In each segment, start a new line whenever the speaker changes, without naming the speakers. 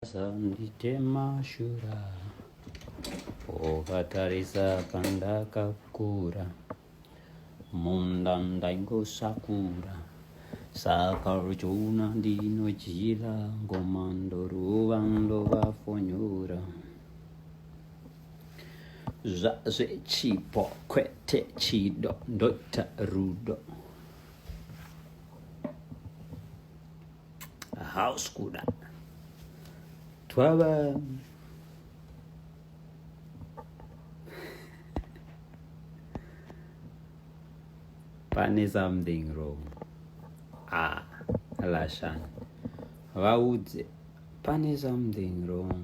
Sanditema shura ukatarisa pandakakura munda ndaingosakura saka uchiona ndinodyira ngoma ndoruva ndovafonyura zvazechipo kwete chido ndoita rudo house kuda twava pane something wrong ah lashani vaudze pane something wrong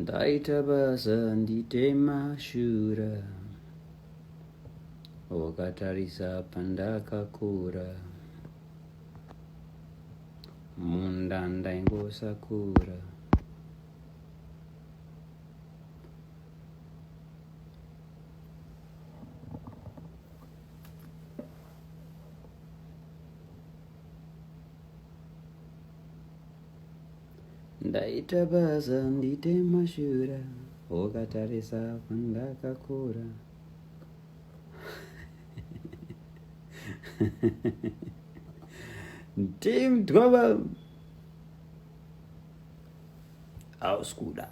ndaita basa nditema shura wakatarisa pandakakura munda ndaingosakura ndaita basa ndite mashura ukatarisa kwandakakura team twaba hausi kuda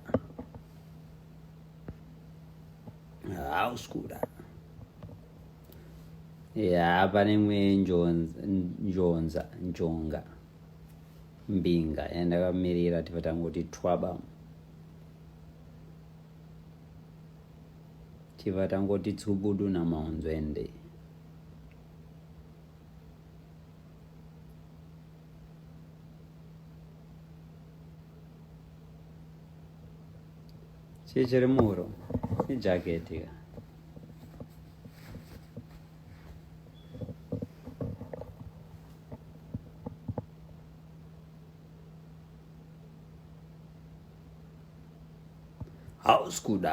hausi kuda ya pane mwe njonza njonga mbinga yandakamirira tifa tangoti twaba tifa tangoti tsubudu namaunzwende chii chiri muhuro ijaketi ka hausi kuda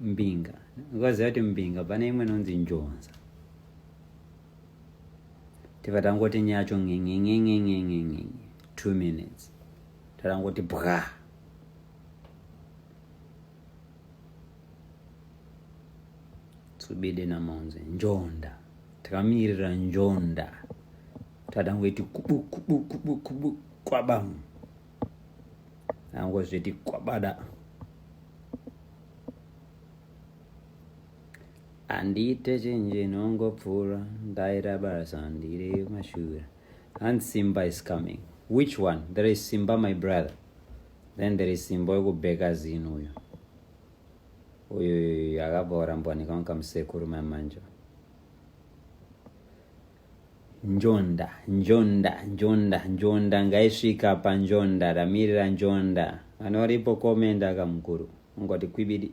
mbinga ukaziva kuti mbinga pane imwe inonzi njonza tifa tangoti nyacho ngengengengengengengenye two minutes tatangoti bwa tsubide namaunze njonda takamirira njonda tatangoiti kubu kubu kubu kubu kwabamu angozviti kwabada handiite chinji nongopfuura ndaira basa ndiri mashura and simba is coming which one there is simba my brother then there is simba wekubheka zinu uyo uyu akabva orambwanika unkamusekuru mamanja Njonda, njonda, njonda, njonda ngaisvika panjonda ramirira njonda. Kana uripo komenda aka mukuru ungoti kwibidi.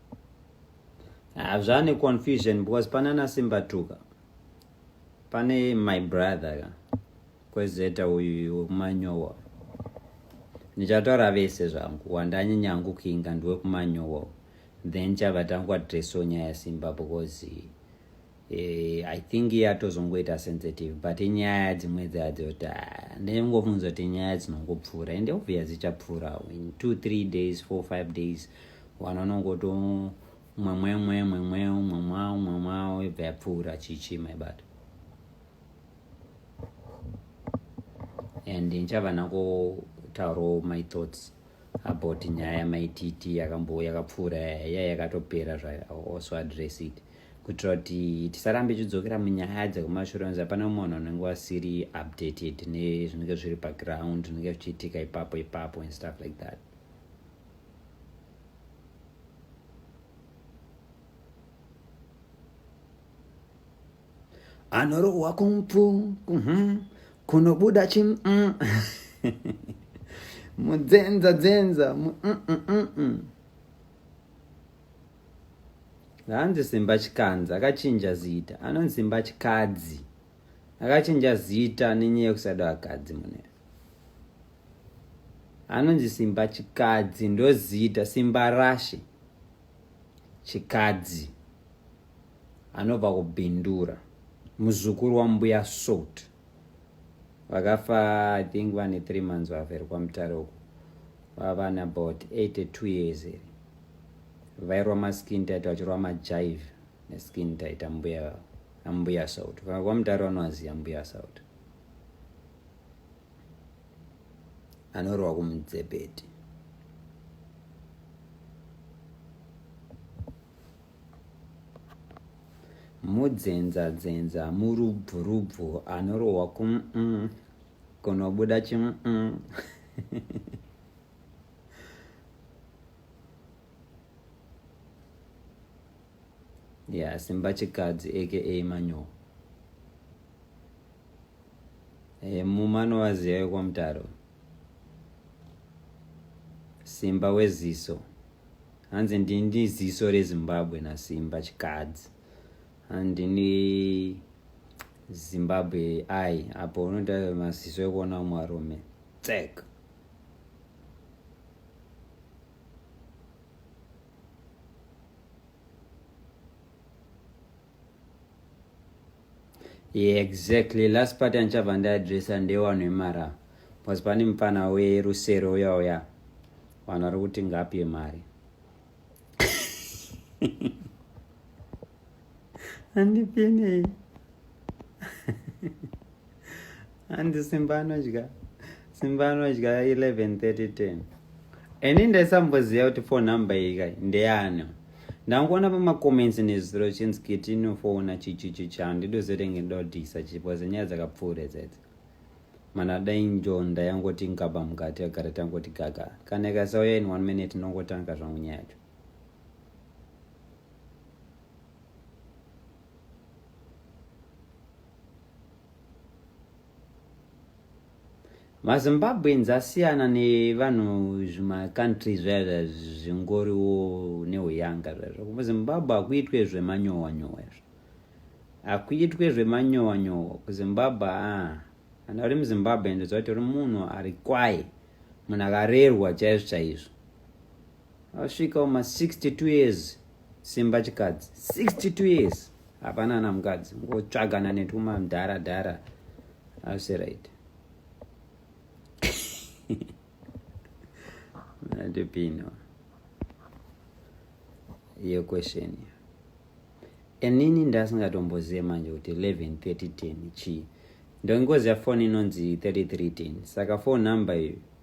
hazvane confusion because panana simba tuka pane my brother ka kwezeta uyu wekumanyowa ndichataura vese zvangu wandanyanyangu kuinga ndiwekumanyowa then chava tangu adreso nyaya simba because Eh, I think yatozongoita sensitive but inyaya dzimwe dzadzo kuti ah, ndinongofunza kuti nyaya dzinongopfuura ende obvious dzichapfuura in two three days four five days vanhu vanongoto mwemwemwe mwemweo mwemwao mwemwao ibva yapfuura chichi my but and ndichavana kutaurawo my thoughts about nyaya yamai tt yakambo yakapfuura yaya yakatopera zvayo also address it kuitira kuti tisarambe chidzokera munyaya dzekumashure nzi hapana munhu anenge wasiri updated nezvinenge zviri paground zvinenge zvichiitika ipapo ipapo and stuff like that anorohwa kumpu mhm, kunobuda chi mm. mudzenza dzenza hanzi simba chikanzi akachinja zita anonzi simba chikadzi akachinja zita nenyaya yekusada vakadzi mune anonzi simba chikadzi ndozita simba rashe chikadzi anobva kubindura muzukuru wambuya salt vakafa i think vane three months vavheri kwamutare uko vavana about 82 years here vairwa maskin tit vachirwa majive neskin tit ambuya ambuya salt kwamutare vanovaziva mbuya salt anorwa kumudzepeti mudzenzadzenza murubvurubvu anorohwa kum mm, kunobuda chim mm. ya yeah, simba chikadzi aka manyowa hey, eh, mumano waziva wekwamutaro simba weziso hanzi ndindi ziso rezimbabwe nasimba chikadzi handini zimbabwe ai apo unoda maziso ekuona umwe arume tsek Yeah, exactly. Last part yanichabva ndaadressa ndewanhu vemara bcause pane mupfana werusero uya uya vanhu vari kuti ngapi yemari andipenei handi simba anodya simba anodya 11:30 ini ndaisamboziva kuti phone number iyi kai ndeyani ndangoona pamacomments nezuro chinzi kiti inofona chichichi chandi ndozotenge ndodhisa chipoze nyaya dzakapfuure dzedzi mana dai njonda yangoti ngaba mukati yagara tangoti gaga kana ikasauya in one minute ndongotanga zvangu nyaya yacho mazimbabweans asiyana nevanhu zvimacountry zvaya zvingoriwo neuyanga zvaizvo kuzimbabwe hakuitwe zvemanyowa nyowa izvo hakuitwe zvemanyowa nyowa kuzimbabwe aa kana uri muzimbabwe ndoziva kuti uri munhu ari kwaye munhu akarerwa chaizvo chaizvo Asvika uma 62 years simba chikadzi 62 years hapana ana mukadzi ngotsvagana netuma mdhara dhara asi right ndipino iyo question iyo inini ndasingatombozive manje kuti 113010 chii ndongoziva foni inonzi 3310 saka fone number iyo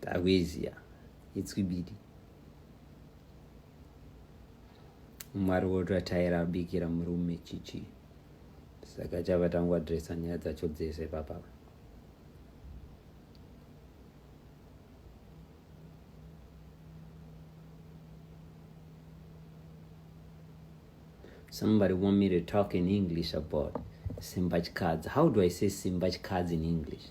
Takuiziya itswibidi. Mwari wototaira abikira murume chichi. Saka chava tangwa dresa nyaya dzacho dzese papa. Somebody want me to talk in English about Simbachkadzi. How do I say Simbachkadzi in English?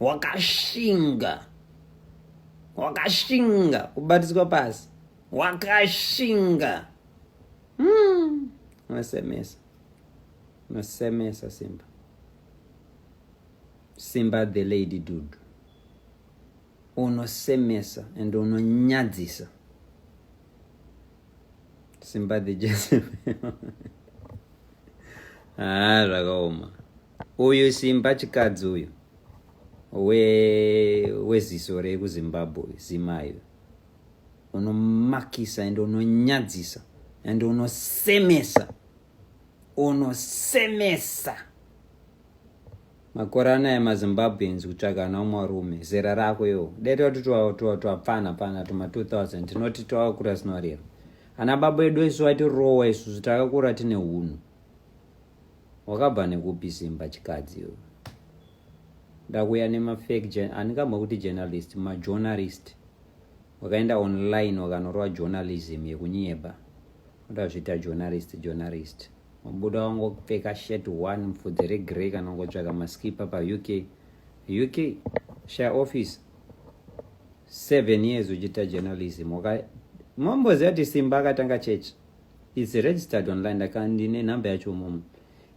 wakashinga wakashinga kubatiswa pasi wakashinga hmm. unosemesa unosemesa simba simba the lady dudu unosemesa and unonyadzisa sympathy joseph haa ah, zvakaoma uyu simba chikadzi uyu weziso we rekuzimbabwe zimai unomakisa and unonyadzisa and unosemesa unosemesa makore anaya mazimbabweans kutsvaga ana umwe rume zera rako yo dai toti twapfana pfana tuma 2000 tinoti twakakura sinorero ana baba edu isu vatirowa isusu takakura tine hunhu wakabva nekupi simba chikadzi yo ndakuya nemafake handikamba kuti journalist majournalist wakaenda online wakanorova journalism yekunyeba ndazviita journalist journalist mubuda wangopfeka shirt one mfudzi regrey kana ungotsvaka maskipa pauk uk share office seven years uchiita journalism mamboziva kuti simba akatanga church its registered online ndakandine nhamba yacho mumu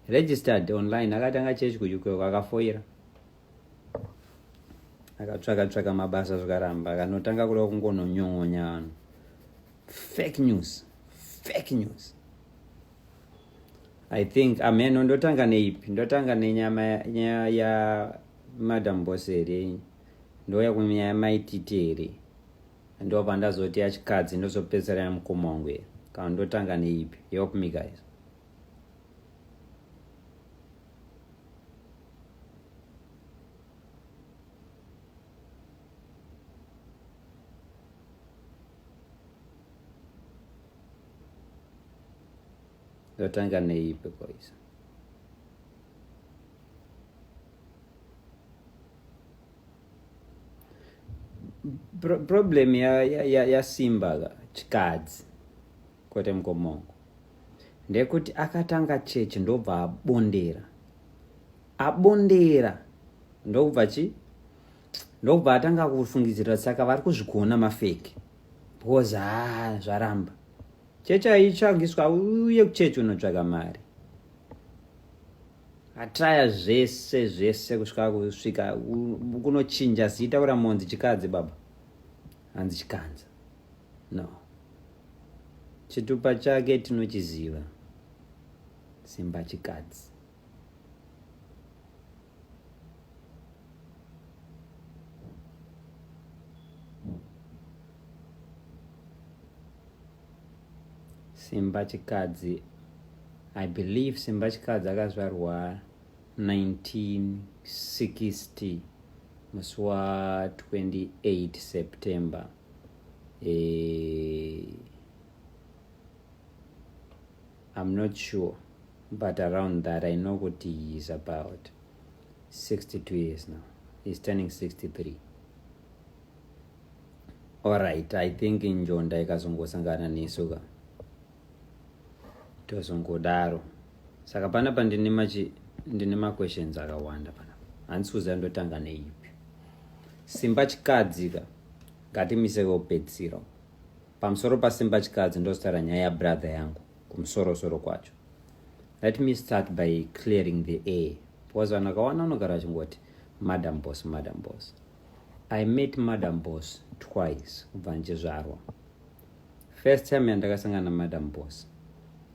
registered online akatanga church kuuk akafoira akatsvaka tsvaka mabasa zvikaramba akanotanga kuda kungononyon'onya vanhu fake news fake news i think ameno ah, ndotanga neipi ndotanga nenyama nyaya ya madam bose here ndouya kunyaya maititi here ndopa ndazoti yachikadzi ndozopedzisira yamukoma wangu here kana ndotanga neipi help me guys Yotanga neipi koisa problem yasimba ya, ya, ya chikadzi kwete mukomoko ndekuti akatanga chechi ndobva abondera abondera ndokubva chi ndokubva atanga kufungidzira saka vari kuzvigona mafeki because ha ah, zvaramba chechi aitsvagiswa uye kuchechi unotsvaga mari atraya zvese zvese kusvika kusvika kunochinja zita kura monzi chikadzi baba hanzi chikanza no Chitupa chake tinochiziva simba chikadzi. Simba chikadzi I believe Simba Chikadzi akazvarwa 1960 musi wa 28 September eh, I'm not sure but around that I know kuti he is about 62 years now he's turning 63 alright I think njonda ikazongosangana nesu ka tozongodaro saka pana pandine machi ndine maquestions akawanda panapa handisi kuziva ndotanga neipi simba chikadzi ka Ngatimise veupedzisiro. Pamusoro paSimba Chikadzi ndozotaura nyaya yabrother yangu kumusoro soro kwacho. Let me start by clearing the air because vanhu vakawana vanogara vachingoti madam boss, madam boss. I met madam boss twice kubva ndichizvarwa. First time yandakasangana namadam boss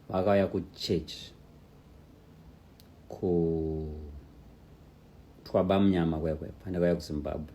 vakauya kuchurch kutwaba munyama kwekwe pandakauya kuzimbabwe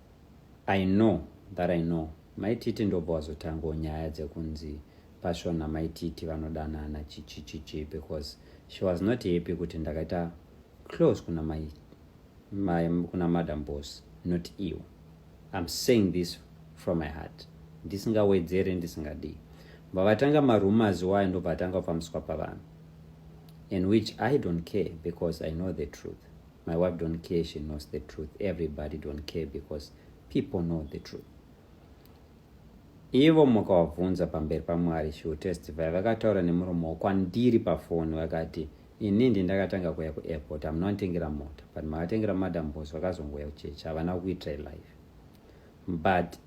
I know that I know mai titi ndobva wazotangawo nyaya dzekunzi passion namai titi vanodanana chichichichi because she was not happy kuti ndakaita close kuna mai mai kuna madam boss not iwo im saying this from my heart ndisingawedzere ndisingadii bva vatanga marumors wayo ndobva atanga kufambiswa pavanhu in which i don't care because i know the truth My wife don't care, she knows the truth. Everybody don't care because people know the truth. Ivo mukavabvunza pamberi paMwari, she will testify. Vakataura nemuromo kwandiri pafoni vakati, ini ndi ndakatanga kuya kuairport hamunonditengera mota but makatengera madam bos vakazongouya kuchechi havana kuitira life but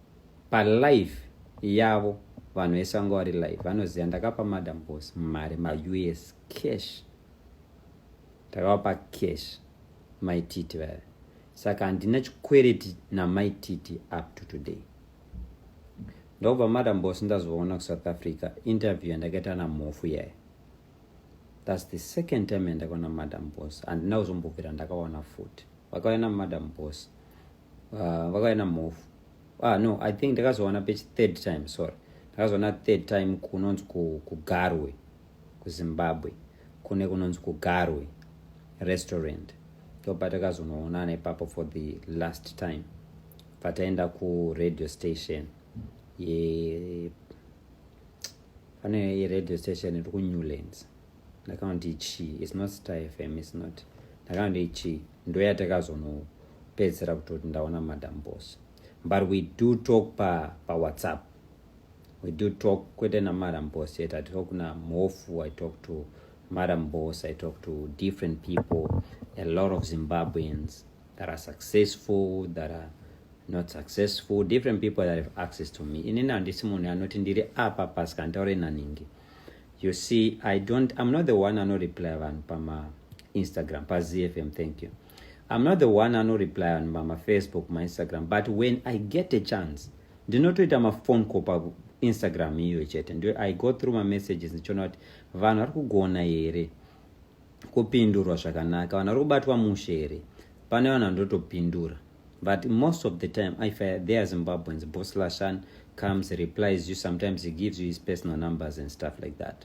palife yavo vanhu vese vanga vari life vanoziva ndakapa madam bos mari maus cash Takavapa cash mai Titi vaya. Saka handina chikwereti namai Titi up to today. Ndobva madam boss ndazoona ku South Africa interview yandakaita na Mhofu yaya. That's the second time yandakaona madam boss. Handina kuzombobvira ndakaona futi. Vakauya na madam boss. Uh, vakauya na Mhofu. Ah no, I think ndakazoona page third time, sorry. Ndakazoona third time kunonzi kuGarwe. Ku kuzimbabwe kune kunonzi kugarwe restaurant ndopatakazonoonana ipapo for the last time pataenda kuradio station ye pane radio station iri kunewlands ndakaonti chii its not star fm its not ndakaonti chii ndoyatakazonopedzisira kutoti ndaona madam bos but we do talk pawhatsapp pa we do talk kwete namadam boss yet i talk na mhofu i talk to madam boss i talk to different people a lot of zimbabweans that are successful that are not successful different people that have access to me inini handisi munhu anoti ndiri apa pasi kanditaure naningi you see i don't i'm not the one anoreply vanhu pama instagram pazfm thank you I'm not the one anoreply on ma, ma Facebook, ma Instagram, but when I get a chance, ndinotoita ma phone call pa Instagram iyo chete. Ndo I go through my messages ndichiona kuti vanhu vari kugona here kupindurwa zvakanaka, vanhu vari kubatwa mushe here. Pane vanhu vandotopindura. But most of the time, if I, they are Zimbabweans, Boss Lashan comes, replies you, sometimes he gives you his personal numbers and stuff like that.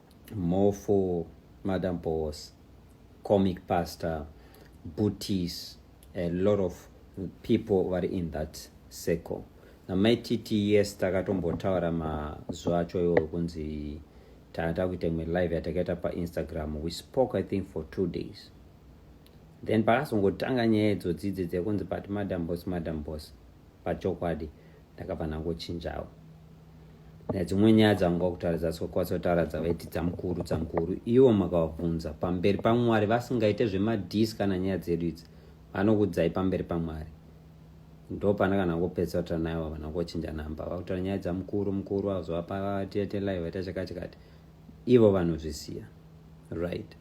More for Madam Boss, Comic Pastor, Booties, a lot of people vari in that circle. Namai TT, yes, takatombotaura mazuva acho iwo kunzi tata kuita imwe live yatakaita painstagram we spoke i think for two days then pakazongotanga nyaya idzodzi idzi dzekunzi but madam boss madam boss pachokwadi ndakabva ndangochinjawo nedzimwe nyaya dzanga kutaridza kwatsotaura dzavaiti dzamukuru dzamukuru ivo makavabvunza pamberi pamwari vasingaite zvemadhisi kana nyaya dzedu idzi vanokudzai pamberi pamwari ndo pana kana ngopedza kutaura naye vava nangochinja namba vakutaura nyaya dzamukuru mukuru vazovapatietelai vaita chakachikati ivo vanozvisiya right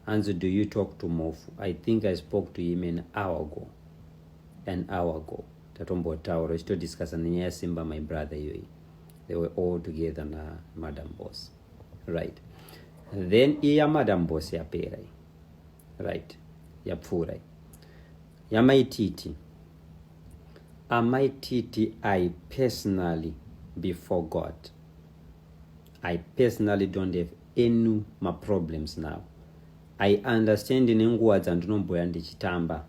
Hanzi do you talk to Mhofu? I think I spoke to him an hour ago. An hour ago. Tatombotaura chitodiscussa nenyaya yaSimba my brother iyoyi. They were all together na madam boss. Right. Then iya madam boss yapera iyi. Right. Yapfuura iyi. Yamai Titi. Amai Titi I personally be forgot. I personally don't have any maproblems now. I understand nenguva dzandinomboya ndichitamba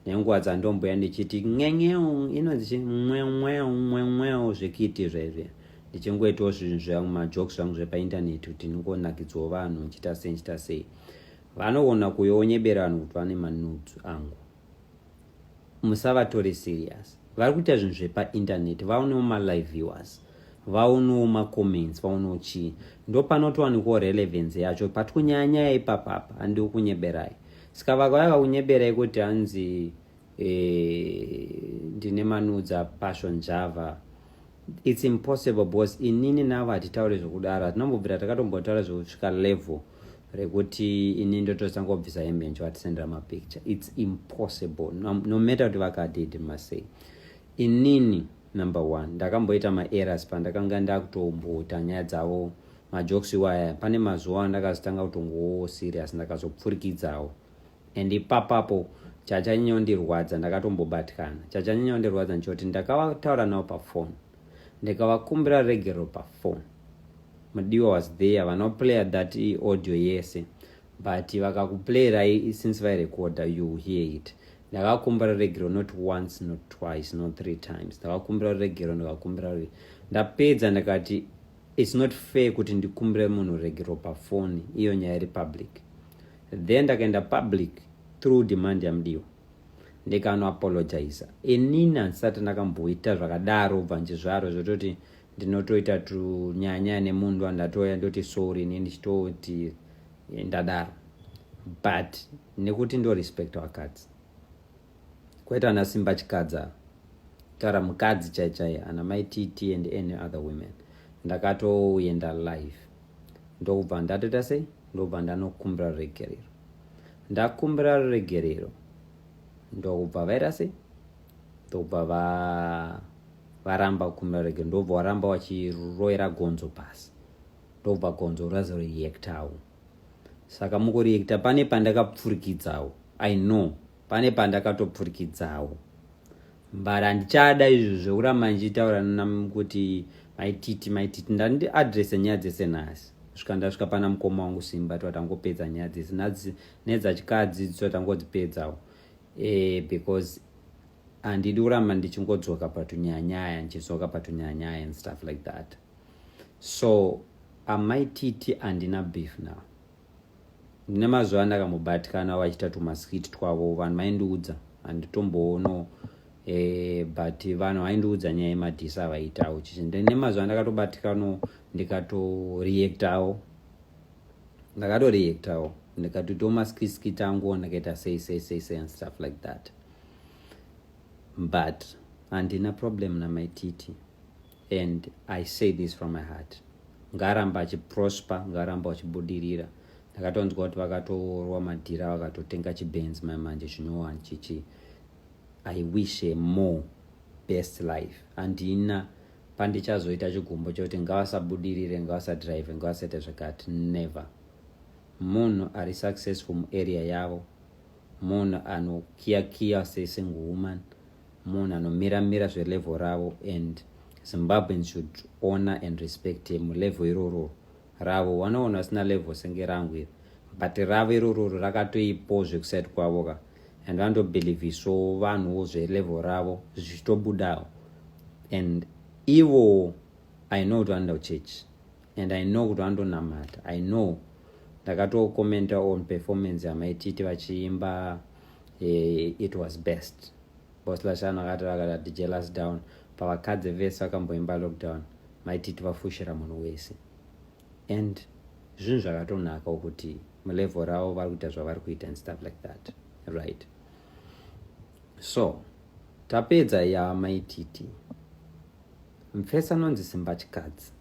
nenguva dzandomboya ndichiti ngenyeu inonzi mwemweu mwemweu zvekiti zvezve ndichingoitawo zvinhu zvangu majokes zvangu zvepaintaneti kuti ndingonakidzwawo vanhu ndichita sei ndichita sei vanogona kuyoonyebera vanhu kuti vane manudes angu musavatore serious vari kuita zvinhu zvepainternet vaonewo malive viewers vaonewo macomments vaonewo chii ndo panotowanikwawo relevance yacho pati kunyaya nyaya ipapapa handiwo kunyeberai saka vakauya vakunyeberai kuti hanzi eh, ndine manudza passion java It's impossible boss inini navo hatitaure zvokudaro hatinambobvira takatombotaura zvekusvika level rekuti ini ndotosangobvisa hembe nje vatisendera mapicture its impossible no, no matter kuti vakadidi masei inini number one ndakamboita maeras pandakanga ndakutomboita nyaya dzavo majokes iwaya pane mazuva andakazotanga kutongowo serious ndakazopfurikidzawo and ipapapo chachanyanya kundirwadza ndakatombobatikana chachanyanya kundirwadza ndichoti ndakavataura navo pafoni ndikavakumbira regero pafoni mudiwa was there vanoplayer that audio yese but vakakuplayerai since vairecorda you hear it ndakakumbira regero not once not twice not three times ndakakumbira regero ndikakumbira ndapedza ndikati It's not fair kuti ndikumbire munhu regero pafoni iyo nyaya iri public then ndakaenda public through demand yamudiwa ndikanoapologiza inini handisati ndakamboita zvakadaro ubva ndizvaro zvototi ndinotoita tunyanya nemunhu andatoya ndoti sorry ini ndichitoti ndadaro but nekuti ndorespect vakadzi Kwete ana Simba Chikadza. Tara mukadzi chai chai ana mai TT and any other women. Ndakatoenda live. Ndokubva ndatoita sei? Ndokubva ndanokumbira ruregerero. Ndakumbira ruregerero. Ndokubva vaita sei? Ndokubva va varamba kukumbira ruregerero. Ndokubva waramba wachiroera gonzo pasi. Ndokubva gonzo razo reactawo. Saka mukureacta pane pandakapfurikidzawo. I know. pane pandakatopfurikidzawo mbara handichada izvo zvekuramba ndichitaura kuti maititi maititi ndandi adrese nyaya dzese nhasi svika ndasvika pana mukoma wangu simba tiwa tangopedza nyaya dzese nhasi nedzachikadzi dziwa tangodzipedzawo e, because handidi kuramba ndichingodzoka patunyanyaya ndichidzoka patunyanyaya and stuff like that so amaititi andina beef now ndine mazuva andakamubatikana vachita tumaskit twavo vanhu vaindiudza handitomboonoo eh, but vanhu vaindiudza nyaya yemadhisa avaitawo chichi ndine mazuva andakatobatikano ndikatoreactawo ndakatoreactawo ndikatoitawo maskiskit angu ndakaita sei sei sei sei and stuff like that but handina problem namaititi and i say this from my heart ngaaramba achiprosper ngaaramba achibudirira ndakatonzwa kuti vakatoorwa madhira vakatotenga chibenzi mai manje zvinyowani chichi i wish a more best life handina pandichazoita chigumbo chokuti ngavasabudirire ngavasadrive ngavasaita zvakati never munhu ari successful muarea yavo munhu anokiyakiya sesingle woman munhu anomira mira zvelevel ravo and zimbabweans should honor and respect him level iroro ravo wanoona vasina level senge rangu iri but ravo irororo rakatoipo zvekuside kwavo ka and vanotobhilivhiswo vanhuwo zvelevel ravo zvichitobudawo and ivo i know kuti vanoenda kuchurch and i know kuti vanondonamata i know ndakatokomenta on performance yamaititi vachiimba it was best bos lashano akati vakadati jealous down pavakadze vese vakamboimba lockdown maititi vafushira munhu wese and zvinhu zvakatonaka ukuti mulevel ravo vari kuita zvavari kuita and stuff like that right so tapedza ya maititi mfesa anonzi simba chikadzi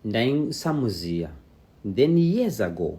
ndaisamuziva then years ago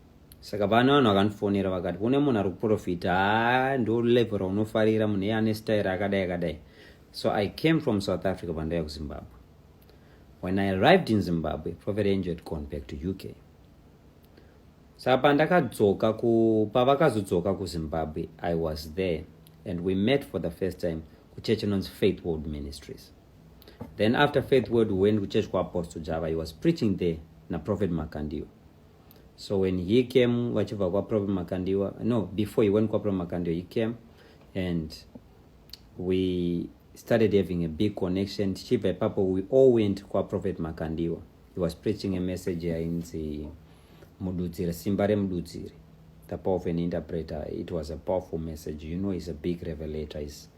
saka pane vanhu vakandifonera vakati kune munhu ari kuprofita haa ndo level raunofarira munhu iye ane style akadai akadai so i came from south africa pandaiya kuzimbabwe when i arrived in zimbabwe prophet angel had gone back to uk saka pandakadzoka pavakazodzoka kuzimbabwe i was there and we met for the first time kuchurch inonzi faith world ministries then after faith world we went kuchurch kuapostle java he was preaching there naprophet makandiwa so when he came vachibva kwaprop makandiwa no before he went kwaprop makandiwa he came and we started having a big connection tichibva ipapo we all went kwaprophet makandiwa he was preaching a message yainzi mududziri simba remududziri the power of an interpreter it was a powerful message you know he's a big revelator he's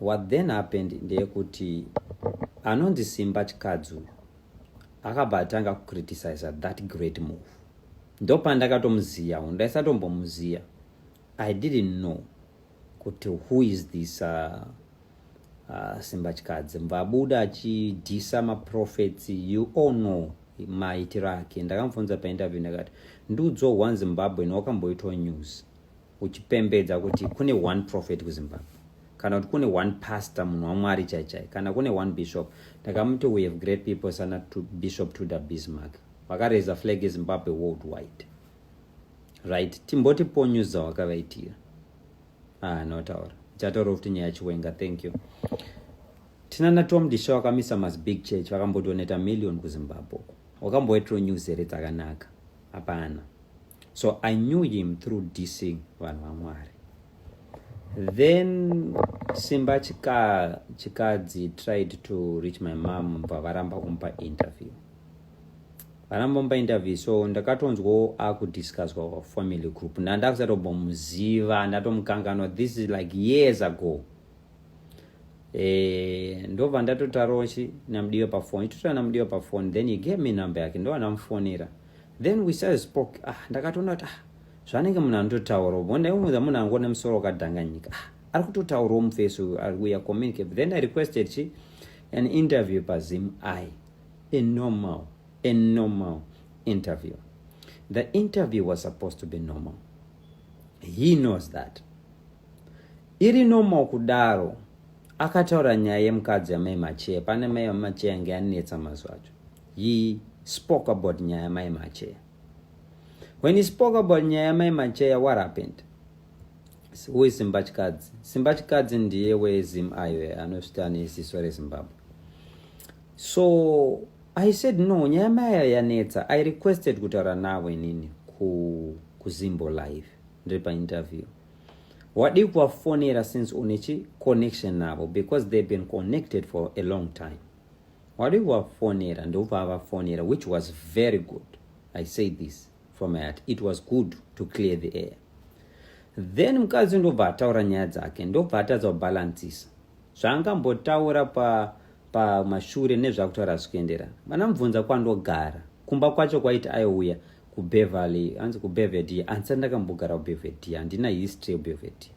What then happened ndeyekuti anonzi Simba Chikadzi uyu akabva atanga kucriticiza that great move. Ndopandakatomuziya uyu, ndaisatombomuziya. I didn't know kuti who is this uh, uh, Simba Chikadzi. Mvabuda achidhisa maprofets, you all know maitiro ake. Ndakamufunza painterview ndakati, ndiudzwa one Zimbabwe nawakamboitwa news. uchipembedza kuti kune one prophet kuzimbabwe kana kuti kune one pastor munhu wamwari chaichai kana kune one bishop ndakamuti we have great people sana to bishop to the bismark vakareza flag ezimbabwe world wide right timboti ponyus dzawakavaitira ah notaura chataura kuti nyaya chiwenga thank you tina natom disha wakamisa mas big church vakambodoneta million kuzimbabwe wakamboitiro news here dzakanaka hapana so i knew him through dissing vanhu vamwari then simba chika chikadzi tried to reach my mom bva varamba kumpa interview varamba kumpa interview so ndakatonzwawo akudiscusswa family group ndandakusatobomuziva ndatomukanganwa this is like years ago eh, ndobva ndatotarochi namudiwe pafoni itotora namudiwe pafoni then he gave me number yake ndo anamufonera then we started spoke ah ndakatoona kuti ah zvanenge munhu anototaura bo ndaimuudza munhu angu ne musoro wakadhanganyika ah ari kutotaurawo mufesi uyu ari kuya communicate then i requested chi an interview pazim i a normal a normal interview the interview was supposed to be normal he knows that Iri normal kudaro. Akataura nyaya yemukadzi yamai Macheya pane mai vaMacheya ange anetsa mazuva acho. He spoke about nyaya yamai Macheya. When he spoke about nyaya yamai Macheya what happened? Who is Simba Chikadzi? Simba Chikadzi ndiye weZim ayo anosvita neziso reZimbabwe. So I said no, nyaya maya yanetsa. I requested kutaura navo inini ku kuZimbo live ndiri painterview. wadii kuvafonera since une chiconnection navo because they've been connected for a long time wadii kuvafonera ndokuvavafonera which was very good i say this from my heart it was good to clear the air then mukadzi ndobva ataura nyaya dzake ndobva atadza kubalancisa zvaangambotaura pamashure pa nezvakutaura zvichienderana vana mubvunza kwandogara kumba kwacho kwaiti aiuya kubeverly anzi kubevedi andisati ndakambogara kubevedi handina history yebevedi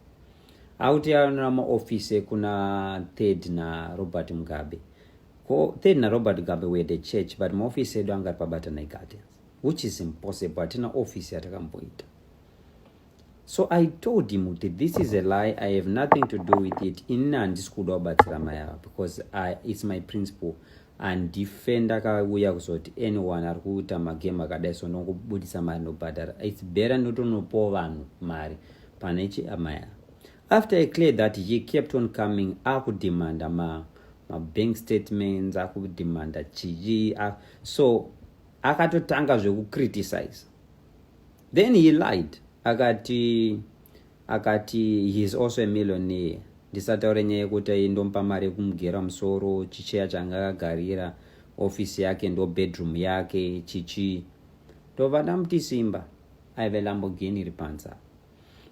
akuti anona maofisi ekuna third narobert mugabe ko third narobert mugabe were the church but maofisi edu anga ari pabatanai gardens which is impossible hatina ofisi yatakamboita so i told him kuti this is a lie i have nothing to do with it inini handisi kuda kubatsira mai ava because I, its my principle handife ndakauya kuzoti anyone ari kuita magame akadai so ndongobudisa mari ndobhadhara its better ndotonopawo vanhu mari pane chiamaya after i clear that he kept on coming akudemanda ma mabank statements akudemanda chii so akatotanga zvekucriticize then he lied akati akati he is also a millionaire ndisataure nyaya yekuti aindompa mari yekumugera musoro chicheya changa akagarira ofisi yake ndo bedroom yake chichii ndobva ndamuti simba aive lamborghini iri panze apa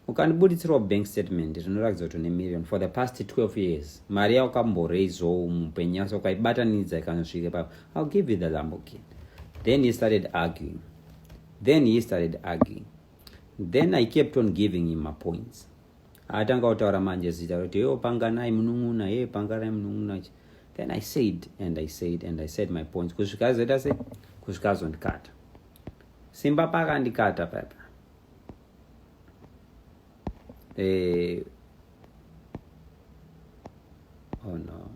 ukandibuditsirawo bank statement rinoratidza kuti une million for the past 12 years mari yaukamboraisawo mupenyu yase ukaibatanidza ikanosvike papa ill give you the lamborghini then he started arguing then he started arguing then i kept on giving him mapoints atanga kutaura manje zita roti yo panganai munun'una ye panganai munun'una then i said and i said and i said my points kusvika azoita se kusvika azondikata simba pakandikata papa eh, oh no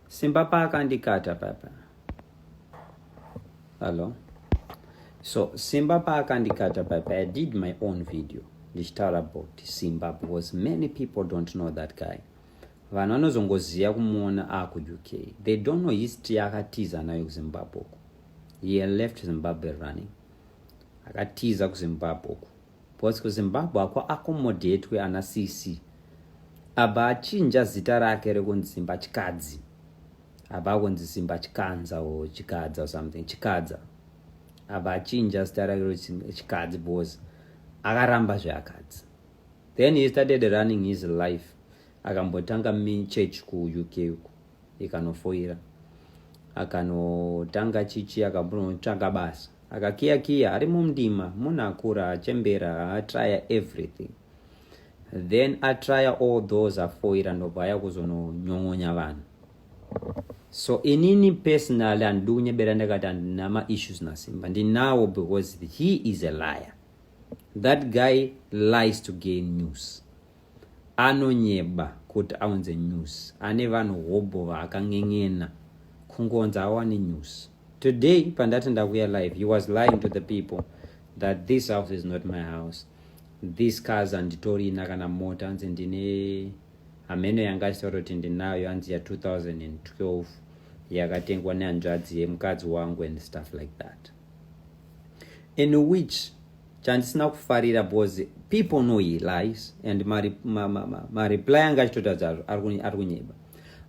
Simba paka ndikata papa. Hello. So Simba paka ndikata papa. I did my own video. Ndichitaura about Simba because many people don't know that guy. Vanhu vanozongoziva kumuona aku UK. They don't know history akatiza nayo kuZimbabwe. He left Zimbabwe running. Akatiza kuZimbabwe. Because kuZimbabwe hakuaccommodatwe ana sisi. Abva achinja zita rake rekunzi Zimba Chikadzi. Abva akunzi Zimba Chikanza or Chikadza or something. Chikadza. Abva achinja zita rake rekunzi Chikadzi because akaramba zveakadzi. Then he started running his life. Akambotanga church kuUK uko ikanofoira. Akanotanga chichi akambonotsvaka basa. Akakiya kiya ari mumdima munhu akura achembera atraya everything then atraya all those afoira ndobva aya kuzononyon'onya vanhu so inini personally handidi kunyebera ndakati handina maissues nasimba ndinawo because he is a liar that guy lies to gain news Anonyeba kuti aunze news. Ane vanhu hobho vaakan'en'ena kungonza awane news. Today pandati ndakuya live he was lying to the people that this house is not my house. These cars handitorina kana mota hanzi ndine hameno yanga achitaura kuti ndinayo hanzi ya 2012 yakatengwa nehanzvadzi yemukadzi wangu and stuff like that. in which chandisina kufarira because people know he lies and mareply anga achitotadzazvo ari kunyeba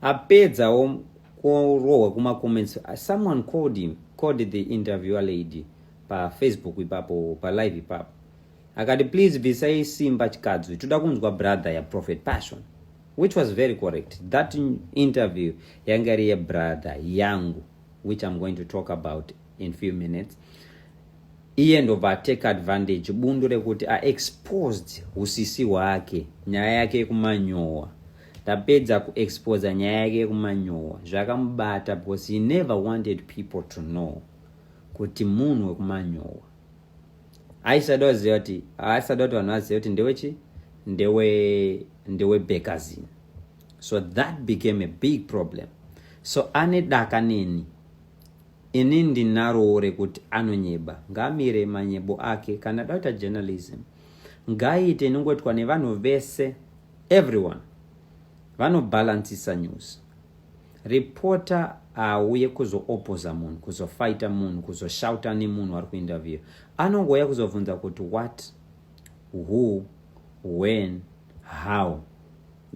apedzawo kurohwa kumacomments someone called him called the interviewer lady pafacebook ipapo palive ipapo akati please bvisai simba chikadzi toda kunzwa brother yaprofet passion which was very correct that interview yanga iri yebrother yangu which I'm going to talk about in few minutes iye ndobva atake advantage bundu rekuti aexposed usisi hwake nyaya yake yekumanyowa tapedza kuexposa nyaya yake yekumanyowa zvakamubata because he never wanted people to know kuti munhu wekumanyowa aisada kuziva kuti aisada kuti vanhu vazive kuti ndewechi ndewe ndewe bekazini so that became a big problem so ane daka neni ini ndinarowo rekuti anonyeba ngamire manyebo ake kana dauta journalism ngaiite inongoitwa nevanhu vese everyone vanobhalansisa news reporter auye kuzoopoza munhu kuzofaita munhu kuzoshauta nemunhu ari kuinterview anongouya kuzobvunza kuti what who when how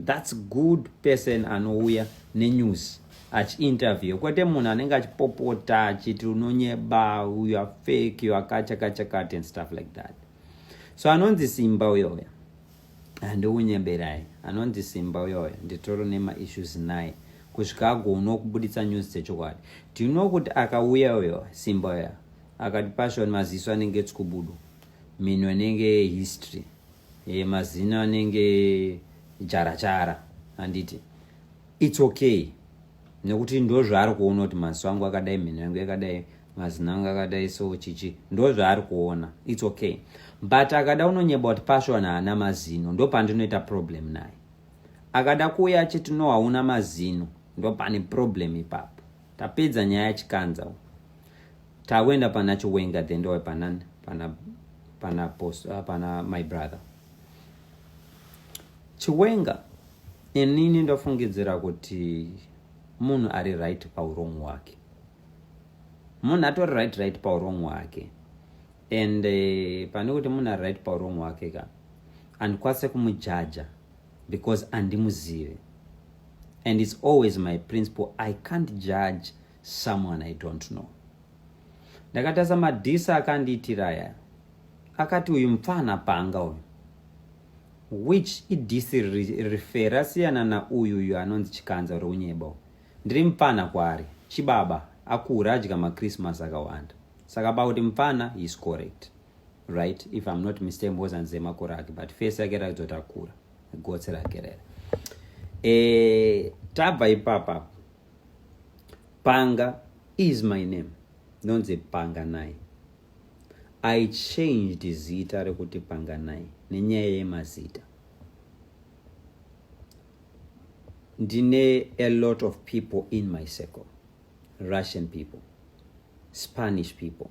That's good person anouya nenews achiinterview kwete munhu anenge achipopota achiti unonyeba uyu afake uyu akachakachakati and stuff like that so anonzi simba uyoya handiunyeberai anonzi simba uyoya nditoro nemaissues naye kusvika agoona kubuditsa news dzechokwadi do you know kuti akauya uyo simba uya akati pashoni maziso anenge tsikubudu minhu anenge history e, mazino anenge jarachara handiti its okay nekuti ndo zvaari kuona kuti maziso angu akadai mhino yangu yakadai mazino angu akadai so chichi ndo zvaari kuona its okay but akada unonyeba kuti passion haana mazino ndo pandinoita problem naye akada kuuya achiti no hauna mazino ndo pane problem ipapo tapedza nyaya yachikanza u takuenda pana chiwenga then ndowe pana pana pana post uh, pana my brother chiwenga inini ndofungidzira kuti munhu ari right paurong hwake munhu atori right right paurong hwake and eh, pane kuti munhu ari right paurong hwake ka andikwanise kumujaja because andimuzive and its always my principle i can't judge someone i don't know ndakatasa madhisa akandiitira aya akati uyu mupfana panga uyu which idhisi rifera siyana nauyu uyu anonzi chikanza uri unyeba ndiri mupfana kwaari chibaba akura adya machristmas akawanda saka pakuti mupfana is correct right if i'm not mistake mbozanzi emakore ake but face yake rakuti kuti akura gotsi rake rera e, tabva ipapa Panga is my name. Ndonzi Panganai. I changed zita rekuti Panganai nenyaya yemazita. Ndine a lot of people in my circle. Russian people, Spanish people,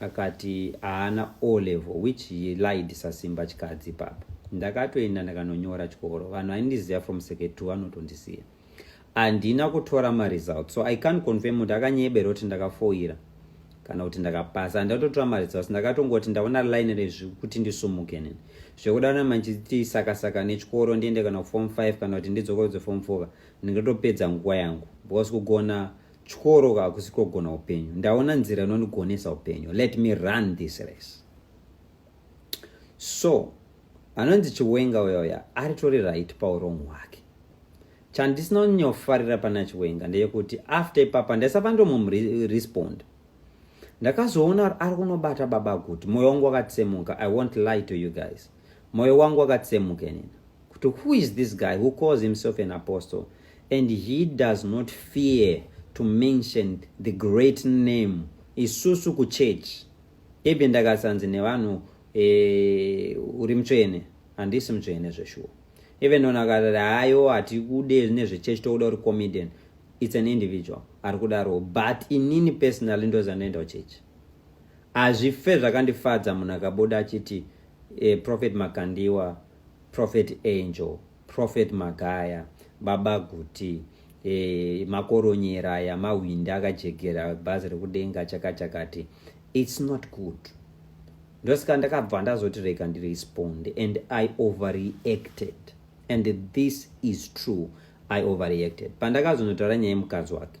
akati haana o level which he lied sasimba chikadzi papa ndakatoenda ndakanonyora chikoro vanhu vaindiziva from second two vanotondisiya handina kutora maresult so i can't confirm kuti akanyebera kuti ndakafoira kana kuti ndakapasa handatotora maresults ndakatongoti ndaona line rezvi kuti ndisumuke nini zvekuda na manchiti sakasaka nechikoro ndiende kana kuform five kana kuti ndidzokorodze form four ndingatopedza nguva yangu because kugona Chikoro hakusi kogona upenyu. Ndaona nzira inondigonesa upenyu. Let me run this race. So, anonzi Chiwenga uyoya aritori right paurong hwake. Chandisina kunyofarira pana Chiwenga ndeyekuti after ipapa ndaisava ndomumrespond. Ndakazoona ari kunobata baba kuti moyo wangu wakatsemuka. I won't lie to you guys. Moyo wangu wakatsemukenina kuti who is this guy who calls himself an apostle and he does not fear to mention the great name isusu kuchurch ibi ndakasanzi nevanhu e, uri mutsvene handisi mutsvene zveshuwa even ona akatati hayo hatikude nezvechechi tokuda uri comedian its an individual ari kudaro but inini personally ndozandoenda kuchechi Hazvife zvakandifadza munhu akabuda achiti eh, Prophet Makandiwa, Prophet Angel, Prophet Magaya, Baba Guti, eh, makoronyera aya mahwindi akajegera bhazi rekudenga chakachakati its not good ndosika ndakabva ndazoti rega ndirespond and i overreacted and this is true i overreacted pandakazonotaura nyaya yemukadzi wake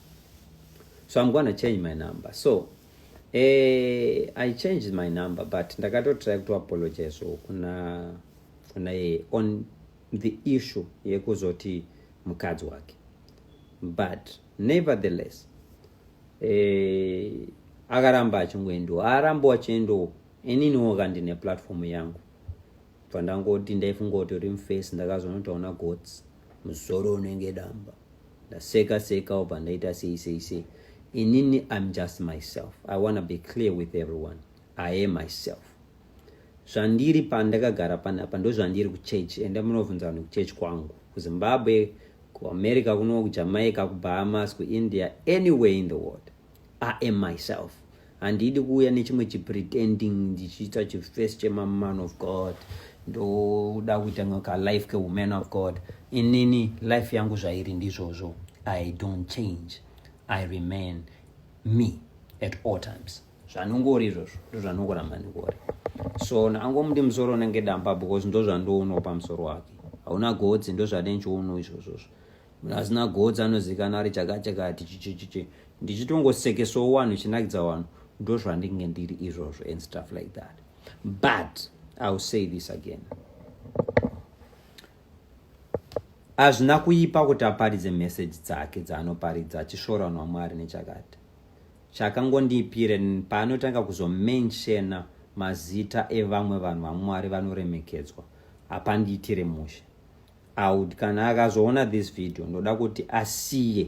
so i'm gonna change my number so eh, i changed my number but ndakatotry kuto apologize kuna kuna yeye on the issue yekuzoti mukadzi wake but nevertheless eh, akaramba achingoendiwo arambo achiendiwo ininiwo kandine platform yangu bva ndangoti ndaifungoti uri mface ndakazonotaona gots muzoro unenge damba ndaseka seka obva ndaita sei sei sei inini im just myself i wanna be clear with everyone i am myself zvandiri pandakagara panapa ndozvandiri kuchurch enda munovhunza vanhu kuchurch kwangu kuzimbabwe kuamerica kuno kujamaica kubahamas kuindia anywhere in the world I am myself handidi kuuya nechimwe chipretending ndichiita chifirst chemaman of god ndoda kuita kalife kewoman of god inini life yangu zvairi ndizvozvo i don't change i remain me at all times zvanongori izvozvo ndozvanongoramba ndingori so angomuti musoro unenge damba because ndozvandoonawo pamusoro wake hauna godzi ndozvade ndichionawo izvozvozvo Hazina godzi anozikana ari chakachakati chichichichi ndichitongosekeswawo wanhu chinakidza wanhu ndozvandinge ndiri izvozvo and stuff like that but iwill say this again hazvina kuipa kuti aparidze meseji dzake dzaanoparidza achisvora vanhu vamwari nechakati chakangondipire paanotanga kuzomenshena mazita evamwe vanhu vamwari vanoremekedzwa hapandiitire mushe aud kana akazoona this video ndoda kuti asiye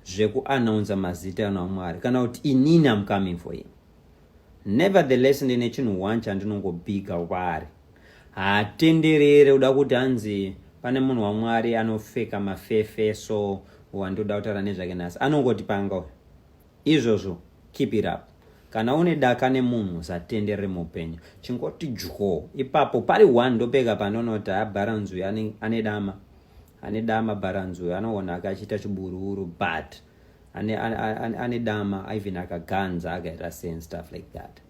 zvekuanaunza mazita ano amwari kana kuti inini am coming for him nevertheless ndine chinhu one chandinongobhiga kwaari haatenderere uda kuti hanzi pane munhu wamwari anofeka mafefe so wandoda kutaura nezvake nhasi anongoti panga Izvozvo keep it up. Kana une daka nemunhu usatenderere muupenyu. Chingoti dyoo. Ipapo pari one ndopega panonoti haa Bharanzi uyu ane, ane dama. Ane dama Bharanzi uyu anoona akachiita chiburuuru but ane, ane, ane, ane dama even akaganza akaita sei and stuff like that.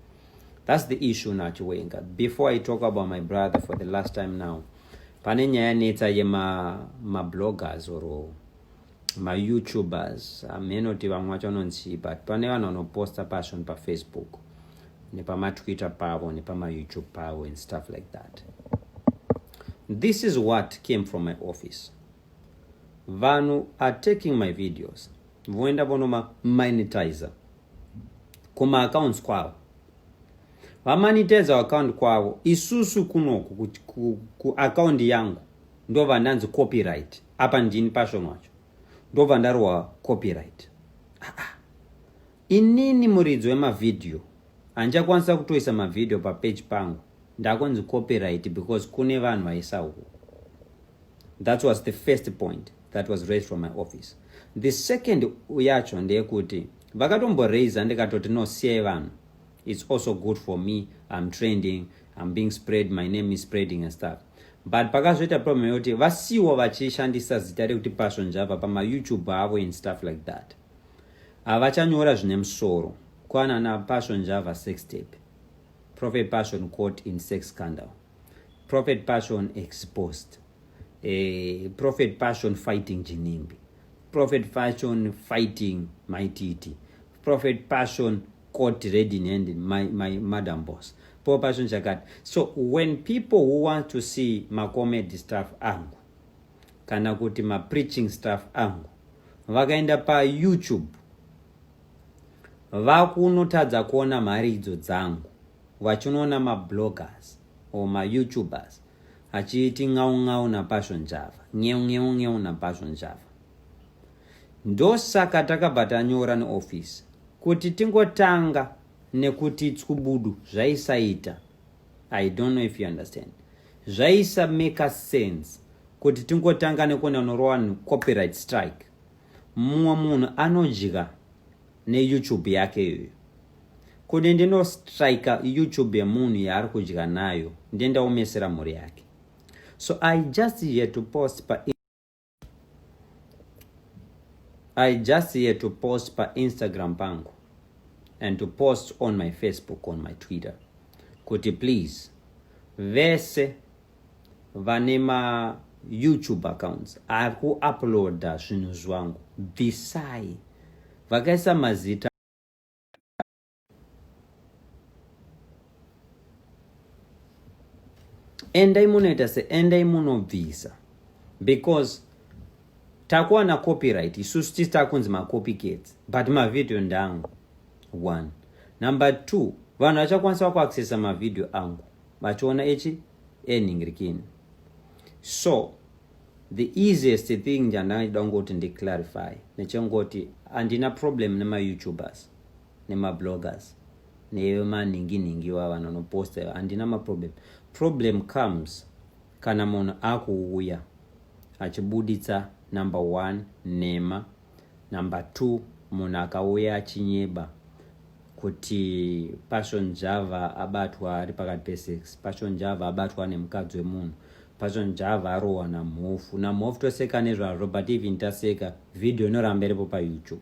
That's the issue now Chiwenga. Before I talk about my brother for the last time now. Pane nyaya netsa yema ma bloggers or mayoutubers hameno kuti vamwe vacho vanonzii but pane vanhu vanoposta pasho nepafacebook nepamatwitter pavo nepamayoutube pavo and stuff like that this is what came from my office vanhu are taking my videos voenda vonomamonetizer kumaaccounts kwavo vamanitizer account kwavo isusu kunoku kuaccount yangu ndovandanzi copyright apa ndini passion wacho ndobva ndarohwa copyright ah, ah. inini muridzi wemavhidhiyo handichakwanisa kutoisa mavhidhiyo papeji pangu ndakonzi copyright because kune vanhu vaisa uku that was the first point that was raised from my office the second yacho ndeyekuti vakatomboraiza ndikatoti no siyai vanhu It's also good for me, I'm trending, I'm being spread, my name is spreading and stuff. But pakazoita problem yoti vasiwo vachishandisa zita rekuti Passion Java pama YouTube avo and stuff like that. Havachanyora zvine musoro. Kwana na Passion Java sex tape. Prophet Passion caught in sex scandal. Prophet Passion exposed. Eh, Prophet Passion fighting Jinimbi. Prophet Passion fighting Maititi. Prophet Passion court ready in hand my, my madam boss po pacho ndichakati so when people who want to see macomedy staff angu kana kuti mapreaching staff angu vakaenda payoutube vakunotadza kuona mari idzo dzangu vachinoona mabloggers or mayoutubers achiiti ng'au ng'au napasho njava ng'eu ng'eu ng'eu napasho njava Ndosaka takabva tanyora neoffice kuti tingotanga nekuti tskubudu zvaisaita. I don't know if you understand. Zvaisa make sense kuti tingotanga nekuenda norova copyright strike. Mumwe munhu anodya neYouTube yake iyoyo. Kuti ndinostrika YouTube yemunhu yaari kudya nayo, ndendaomesera mhuri yake. So I just here to post pa I just here to post pa Instagram pangu and to post on my Facebook, on my Twitter. Kuti please, vese vane ma YouTube accounts ari kuuploada zvinhu zvangu bvisai vakaisa mazita endai munoita se endai munobvisa because takuwana copyright isusu tisi takunzi macopycats but mavhidhiyo ndangu one number two vanhu vachakwanisa vakuaccessa mavhidhiyo angu vachiona echi enhingirikini so the easiest thing chandangachida kungoti ndiclarify nechengoti handina problem nemayoutubers nemabloggers nevemanhingi nhingi iwa vanhu vanoposta iva handina maproblem problem comes kana munhu akuuya achibuditsa number one nhema number two munhu akauya achinyeba kuti passion java abatwa ari pakati pesex passion java abatwa nemukadzi wemunhu passion java arohwa namhofu namhofu toseka nezvazvo but even taseka vhidhiyo inoramba iripo payoutube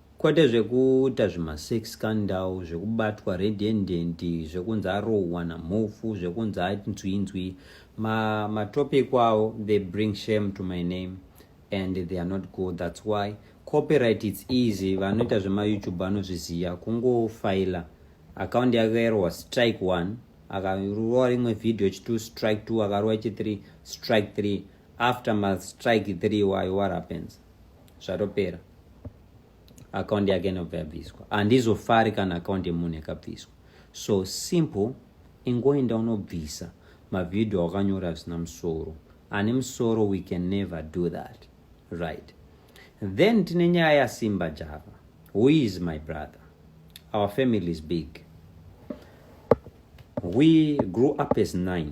Kwete zvekuita zvimasex scandal, zvekubatwa red handed, zvekunzi arohwa namhofu, zvekunzi anzwinzwi. Ma, matopic avo, they bring shame to my name and they are not good. That's why copyright it's easy. Vanoita zvemayoutube vanozviziva. Kungofaila account yake yarohwa strike one, akarohwa rimwe video chitu strike two, akarohwa chithree strike three. After ma strike three iwayo, what happens? zvatopera akaundi yake inobva yabviswa handizofari kana akaundi yemunhu yakabviswa so simple ingoenda unobvisa mavhidhiyo awakanyora zvisina musoro ane musoro we can never do that right then tine nyaya yasimba java who is my brother our family is big we grew up as nine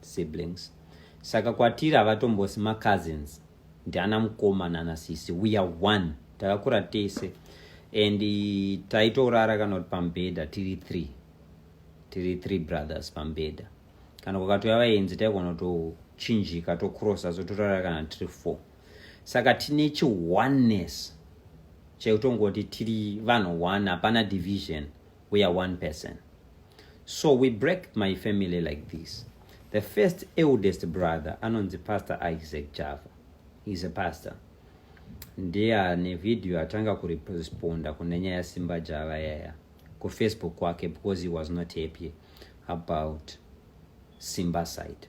siblings saka kwatiri havatombosi macousins ndiana mukoma nana sisi we are one takakura tese and taitorara kana kuti pamubhedha tiri three tiri three brothers pamubhedha kana kukatouya vaenzi taigona tochinjika tocrossa so torara kana tiri four saka tine chioneness chekutongoti tiri vanhu one hapana division we are one person so we break my family like this the first eldest brother anonzi pastor isaac java is a pastor ndiye ane video atanga kuresponda kune nyaya simba java yaya kufacebook kwake because he was not happy about simba side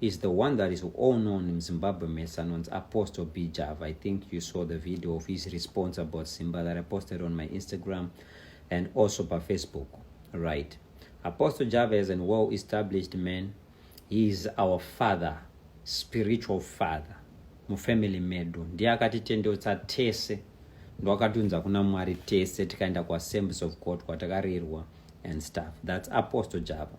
is the one that is all known in Zimbabwe mess anonzi Apostle B Java. I think you saw the video of his response about Simba that I posted on my Instagram and also by Facebook, right? Apostle Java is a well-established man. He is our father, spiritual father, mufamily medu. Ndiye akatitendeutsa tese ndowakatiunza kuna Mwari tese tikaenda kuassemblies of God kwatakarirwa and stuff. That's Apostle Java.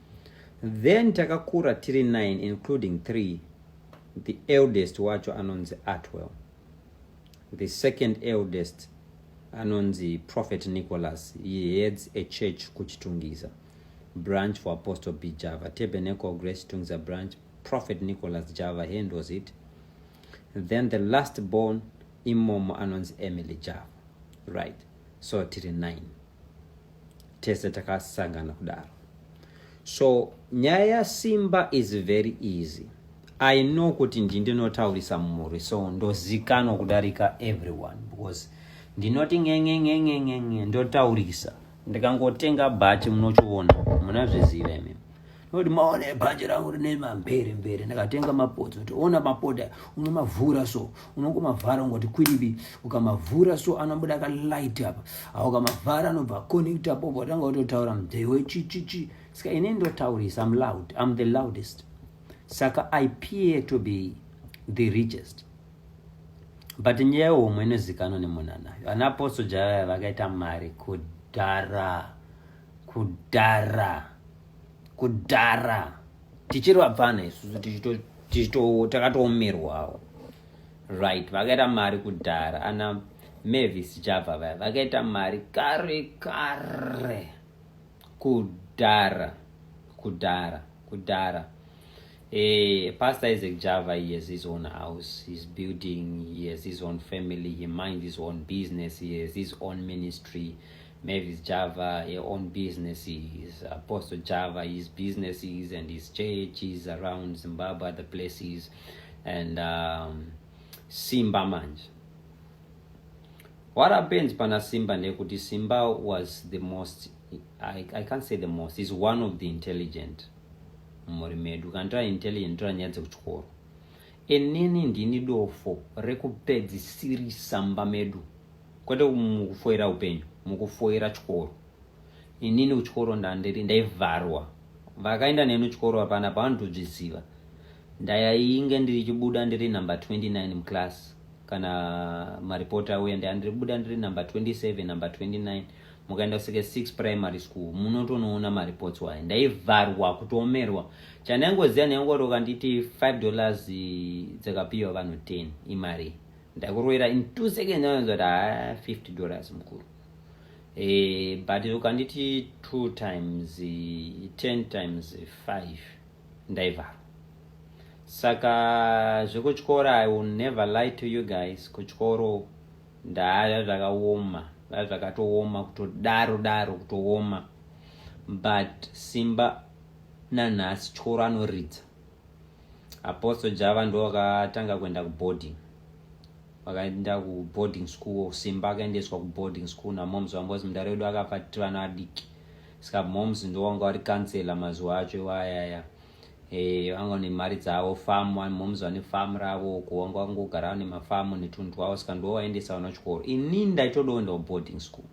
then takakura tiri 9 including 3 the eldest wacho anonzi artwell the second eldest anonzi prophet nicholas he heads a church kuchitungisa branch for apostle b java tabernacle grace tungisa branch prophet nicholas java hand was it then the last born imomo anonzi emily java right so tiri 9 tese takasangana kudaro so nyaya yasimba is very easy i know kuti ndi ndinotaurisa mumhuri so ndozikanwa kudarika everyone because ndinoti ngengengengengengen ndotaurisa ndikangotenga bhati munochiona munazviziva imi Kuti maone bhanje rangu rine mambere mbere ndakatenga mapotsi kuti ona mapota unomavhura so unongomavhara ungoti kwiribi ukamavhura so anobuda ka light apa awo ukamavhara anobva connect apo watanga utotaura mdhei wechichichi saka ini ndotaurisa am loud am the loudest saka i peer to be the richest but nyaya yehomwe inozikanwa nemunhu anayo ana apostle jaya vakaita mari kudhara kudhara kudhara tichiri vapfana isusu takatoomerwawo right vakaita mari kudhara ana mavis java vaya vakaita mari kare kare kudhara kudhara kudhara Eh, Pastor Isaac Java, he has his own house, he's building, he has his own family, he minds his own business, he has his own ministry. Mavis Java, your own business is Apostle Java, his businesses and his churches around Zimbabwe, other places, and um, Simba Manj. What happens Pana Simba Nekuti Simba was the most, I, I can't say the most, he's one of the intelligent. mumhuri medu kana tava intelligent tora nyaya dzekuchikoro inini ndini dofo rekupedzisirisa mba medu kwete mukufoira upenyu mukufoira chikoro inini kuchikoro ndandiri ndaivharwa vakaenda neni chikoro apana pavanotozviziva ndayainge ndichibuda ndiri number 29 muclass kana maripoti auya ndaya ndiribuda ndiri number 27 number 29 mukaenda kuseke 6 primary school munotonoona maripoti wayo ndaivharwa kutoomerwa chandaingoziva ndaingoti ukanditi 5 dollars dzakapiwa vanhu 10 imari ndakuroera in two seconds anonzwa kuti haa 50 dollars mukuru e, but ukanditi two times ten times five ndaivharo saka zvekutyora i will never lie to you guys kutyoro ndaya zvakaoma vaya zvakatooma kutodaro daro kutooma but simba nanhasi tyoro anoridza Apostle Java ndo akatanga kuenda kuboarding vakaenda kuboarding school simba akaendeswa kuboarding school namoms vangu vazi mudare wedu akafa titi vana adiki saka moms ndo vanga vari kansela mazuva acho iwayaya eh, vanga ne mari dzavo fam moms vane fam ravo uko vanga vangogara vane mafamu netunhu twavo saka ndo vaendesa vana kuchikoro ini ndaitodoenda kuboarding school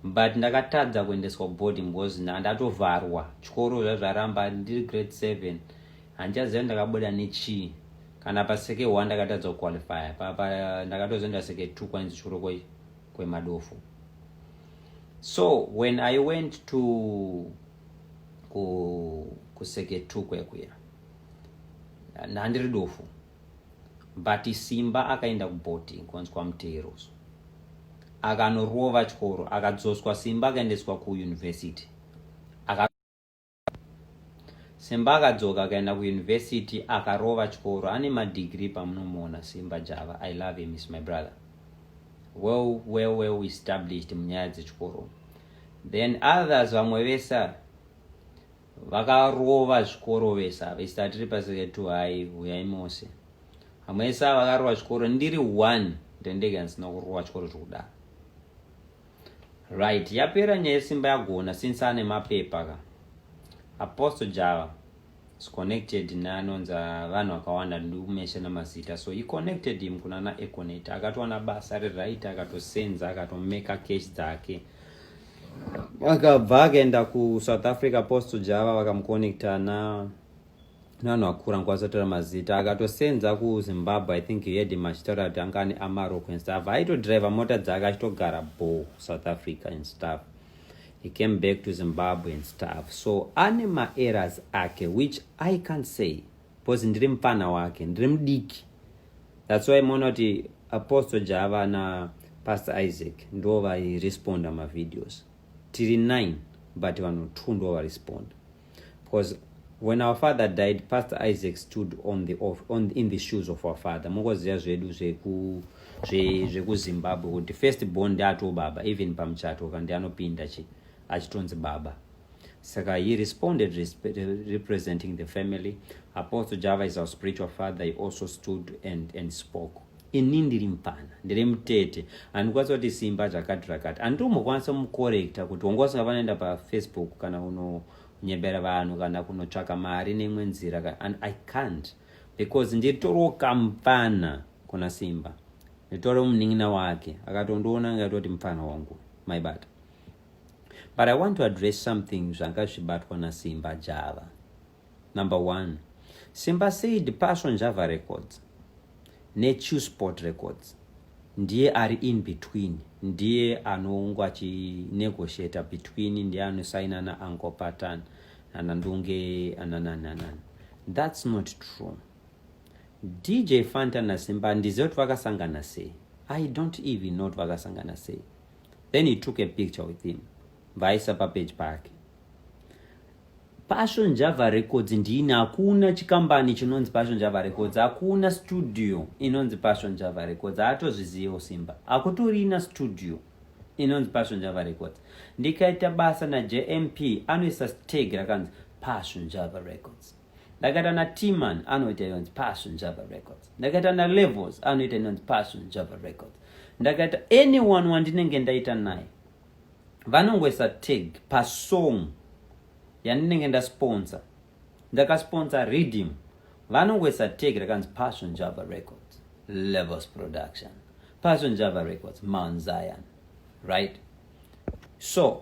but ndakatadza kuendeswa kuboarding because ndatovharwa chikoro zvazvaramba ndiri grade seven handichaziva ndakabuda nechii kana paseke one ndakatadza kuqualifya papa ndakatozoenda seke two kwainzi chikoro kwemadofo so when i went to kuseke two kwekuya handiri dofo but simba akaenda kubhoti konzwa mutero so akanorova chikoro akadzoswa simba akaendeswa kuuniversity aka simba akadzoka akaenda kuuniversity akarova chikoro ane madigiri pamunomuona simba java i love him is my brother well well well established munyaya dzechikoro then others vamwe vese vakarova zvikoro vese ava isi tatiri paseketu hai huyai mose hamwese ava vakarova zvikoro ndiri one ndendege handisina kurova chikoro zvokudaro right yapera nyaya yesimba yagona since ane mapepa ka aposto java is connected neanonzi vanhu vakawanda ndikumesha namazita so he connected him kuna naeconet akatowana basa riright akatosenza akatomeka cash dzake akabva akaenda kusouth africa post java vakamuconnecta na nevanhu vakura nkwasatotaura mazita akatosenza kuzimbabwe i think yedi machitaura kuti anga ane amarok and stuff aitodriver mota dzake achitogara bo south africa and stuff he came back to zimbabwe and stuff so ane maeras ake which i can't say because ndiri mupfana wake ndiri mudiki That's why monoti Apostle Java na Pastor Isaac ndo vairesponda mavideos. Tiri nine but vanhu two ndo varesponda. Because when our father died, Pastor Isaac stood on the off, on in the shoes of our father. Mungoziva zvedu zveku zvekuzimbabwe kuti first born ndiato baba even pamuchato ka ndianopinda chi achitonzi baba saka he responded resp representing the family apostle java is our spiritual father he also stood and, and spoke ini ndiri mupfana ndiri mutete handikwanisa kuti simba zvakati rakati handitombokwanisa mukorekta kuti wanga usinga vanoenda pafacebook kana unonyebera vanhu kana kunotsvaka mari neimwe nzira and i can't because nditoriwo kamupfana kuna simba nditoriwo munin'ina wake akatondiona ngaitoti mupfana wangu maibata But I want to address something zvanga zvichibatwa naSimba Java. Number one, Simba said Passion Java Records neChew Sport Records ndiye ari in between, ndiye anongo achinegotiata between, ndiye anosaina naAnko Patan nanandunge ananananan. That's not true. DJ Fanta naSimba ndiziva kuti vakasangana sei. I don't even know kuti vakasangana sei. then he took a picture with him vaisa papeji pake passion java records ndini hakuna chikambani chinonzi passion java records hakuna studio inonzi passion java records haatozvizivewo simba hakutorina studio inonzi passion java records ndikaita basa najmp anoisa steg rakanzi passion java records ndakaita na timan anoita inonzi passion java records ndakaita na levels anoita inonzi passion java records ndakaita anyone wandinenge ndaita naye vanongoisa tag pasong yandinenge ndasponsa ndakasponsa reading vanongoisa tag rakanzi passion java records levels production passion java records mount zion right so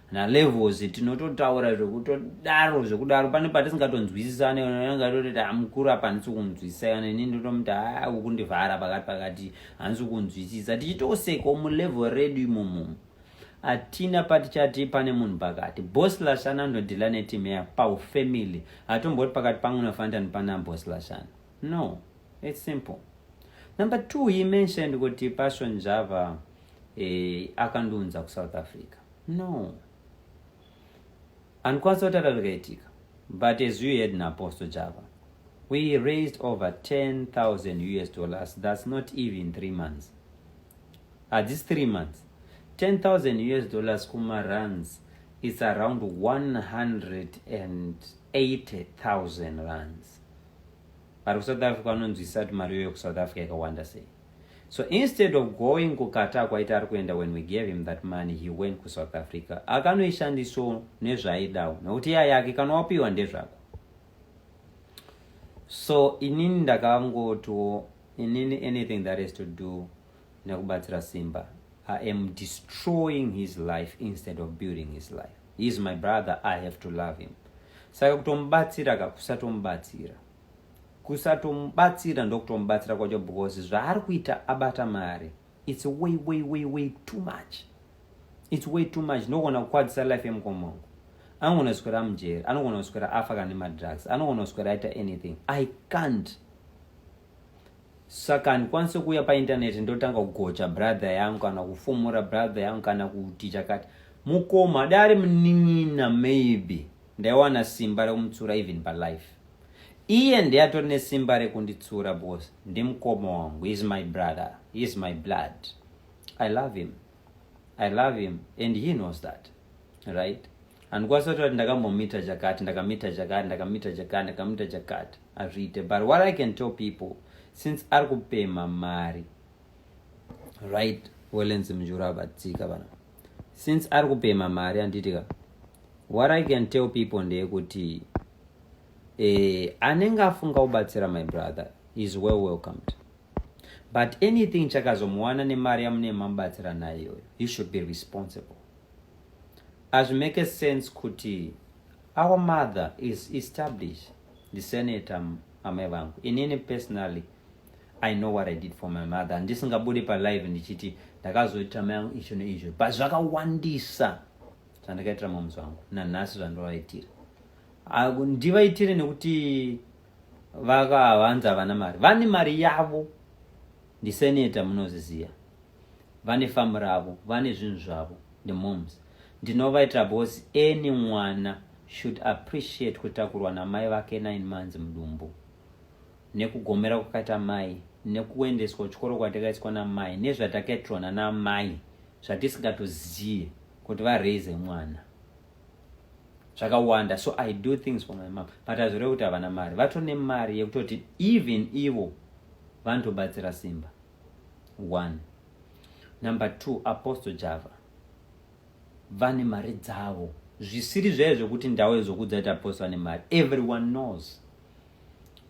nalevels tinototaura zvekutodaro zvekudaro pane patisingatonzwisisane anenge atoti ta mukuru apa handisi kunzwisisa kana ini ndotomuti haa ukundivhara pakati pakati handisi kunzwisisa tichitosekawo mulevel redu imomo hatina patichati pane munhu pakati bos lashana anodhila netim ya pau family hatomboti pakati pangu nafantani pana bos lashana no its simple number two he mentioned kuti passion java eh, akandiunza kusouth africa no andikwanisa kutaura zvikaitika but as you heard naapostle java we raised over 10000 us dollars thats not even three months hadzisi three months 10000 us dollars kumaruns it's around 180000 runs vari kusouth africa vanonzwisisa kuti mari yoyo kusouth africa yakawanda sei So instead of going kuKatar kwaita ari kuenda when we gave him that money he went kuSouth Africa akanoishandiso nezvaidawo nokuti iya yake kana wapiwa ndezvako. So inini ndakangotiwo inini anything that has to do nekubatsira Simba I am destroying his life instead of building his life. He is my brother I have to love him. Saka kutomubatsira ka kusatomubatsira. kusatomubatsira ndokutomubatsira kwacho because zvaari kuita abata mari its way way way way too much its way too much ndogona kukwadzisa life yemukomongo anogona kuswera mujeri anogona kuswera afa kana nemadrugs anogona kuswera aita anything i can't saka handikwanise kuuya paintaneti ndotanga kugocha brother yangu kana kufumura brother yangu kana kuti chakati mukoma dai ari munin'ina maybe Ndaiwana simba rekumutsura even palife. Iye ndiye atori nesimba rekunditsura because ndimukoma wangu. He is my brother. He is my blood. I love him. I love him and he knows that. Right? handikwanisa kutaura kuti ndakambomita chakati ndakamita chakati ndakamita chakati ndakamita chakati hazviite but what i can tell people since ari kupemha mari right welens mjura abatsika vana since ari kupema mari handiitika what i can tell people ndeyekuti eh, anenge afunga kubatsira my brother is well welcomed but anything chakazomuwana nemari yamune mamubatsira nayo iyoyo he should be responsible as make a sense kuti our mother is established the senator amai vangu inini personally i know what i did for my mother ndisingabude palive ndichiti ndakazoitira mai yangu izvo neizvo but zvakawandisa zvandakaitira mamuzi vangu nanhasi zvandovaitira ndivaitire nekuti vakavanzi havana mari vane mari yavo ndiseneta munozviziva vane famu ravo vane zvinhu zvavo ndemoms ndinovaitira bos any mwana should appreciate kutakurwa namai vake nine months mudumbu nekugomera kwakaita mai nekuendeswa kuchikoro kwatakaiswa namai nezvatakaitirwa nanamai zvatisingatoziye kuti varaise mwana zvakawanda so i do things for my mom but hazvireve kuti havana mari vatone mari yekutoti even ivo vanotobatsira simba one number two apostle java vane mari dzavo zvisiri zvaye zvekuti ndawe zvokudza kuti apostle ane mari everyone knows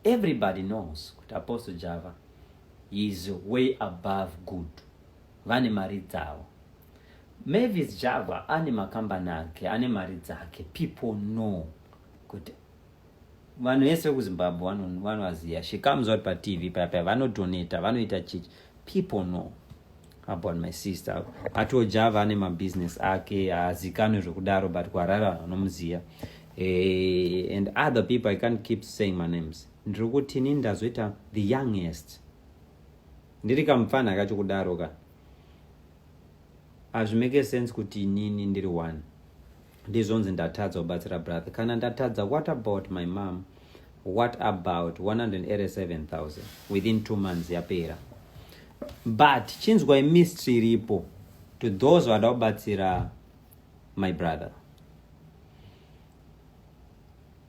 everybody knows kuti apostle java is way above good vane mari dzavo mavis java ane makambani ake ane mari dzake people know kuti vanhu vese vekuzimbabwe vanovaziva she comes out patv payapaya vanodonata vanoita chichi people know about my sister atoja vane mabusiness ake haazikanwe zvekudaro but kuharare vanhu vanomuziva eh, and other people i can't keep saying my names ndiri kuti ini ndazoita the youngest ndiri kamupfanha kacho kudaro ka hazvimeke sense kuti inini ndiri one ndizvonzi ndatadza kubatsira brother kana ndatadza what about my mom what about 187000 within two months yapera but chinzwai mystery iripo to those vada kubatsira my brother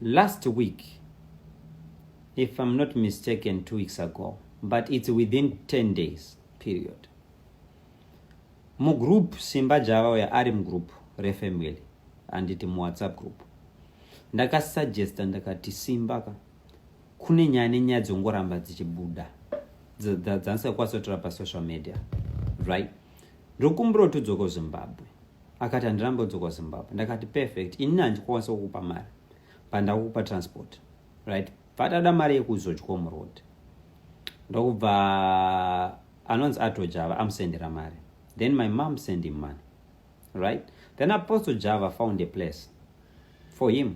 last week if i'm not mistaken two weeks ago but it's within 10 days period mugroup simba java uya ari mugroup refamily handiti muwhatsapp group ndakasuggesta ndakati simba ka kune nyaya nenyaya dzongoramba dzichibuda dzandisakwasotora pasocial media right ndokumbira kuti udzoka zimbabwe akati handiramba udzoka zimbabwe ndakati perfect inini handikwanisa kukupa mari pandakukupa transport right vatada mari yekuzodya muroad ndokubva anonzi ato java amusendera mari then my mom send him money right then apostle java found a place for him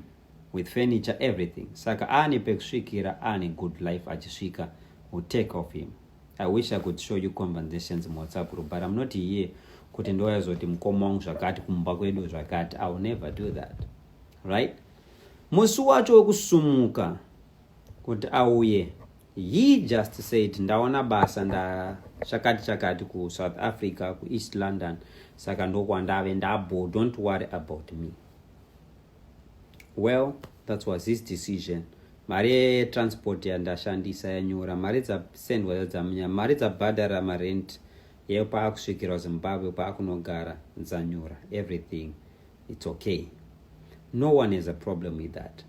with furniture everything saka aane pekusvikira aane good life achisvika will take off him i wish i could show you compensations muwhatsapp group but im not here kuti ndoyazoti mukoma wangu zvakati kumba kwedu zvakati i will never do that right musi wacho wekusumuka kuti auye He just said ndaona basa ndachakati chakati kuSouth Africa kuEast London saka ndokwandave ndabo don't worry about me. Well, that was his decision. Mari yetransport yandashandisa yanyura, mari dzasendwa dzadzamnya, mari dzabhadhara marent yeyo paakusvikirwa Zimbabwe paakunogara dzanyura everything. its okay no one has a problem with that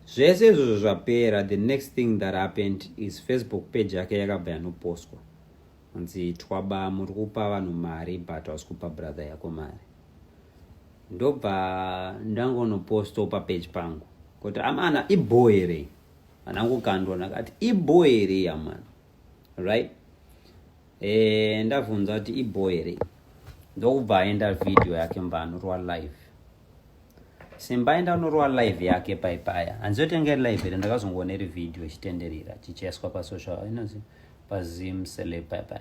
zvese izvozvo zvapera the next thing that happened is facebook page yake yakabva yanopostwa hanzi twaba muri kupa vanhu mari but hausi kupa brother yako mari ndobva ndangonoposto papage pangu kuti amana iboere anangokandwa ndakati iboere amana right eh ndavhunza kuti iboy here ndokubva aenda video yake mba anorwa live simba aenda anorwa live yake paipaya hanzotenge live here ndakazongoona iri video ichitenderera chichaiswa pasocial inozi pazim sele paipaya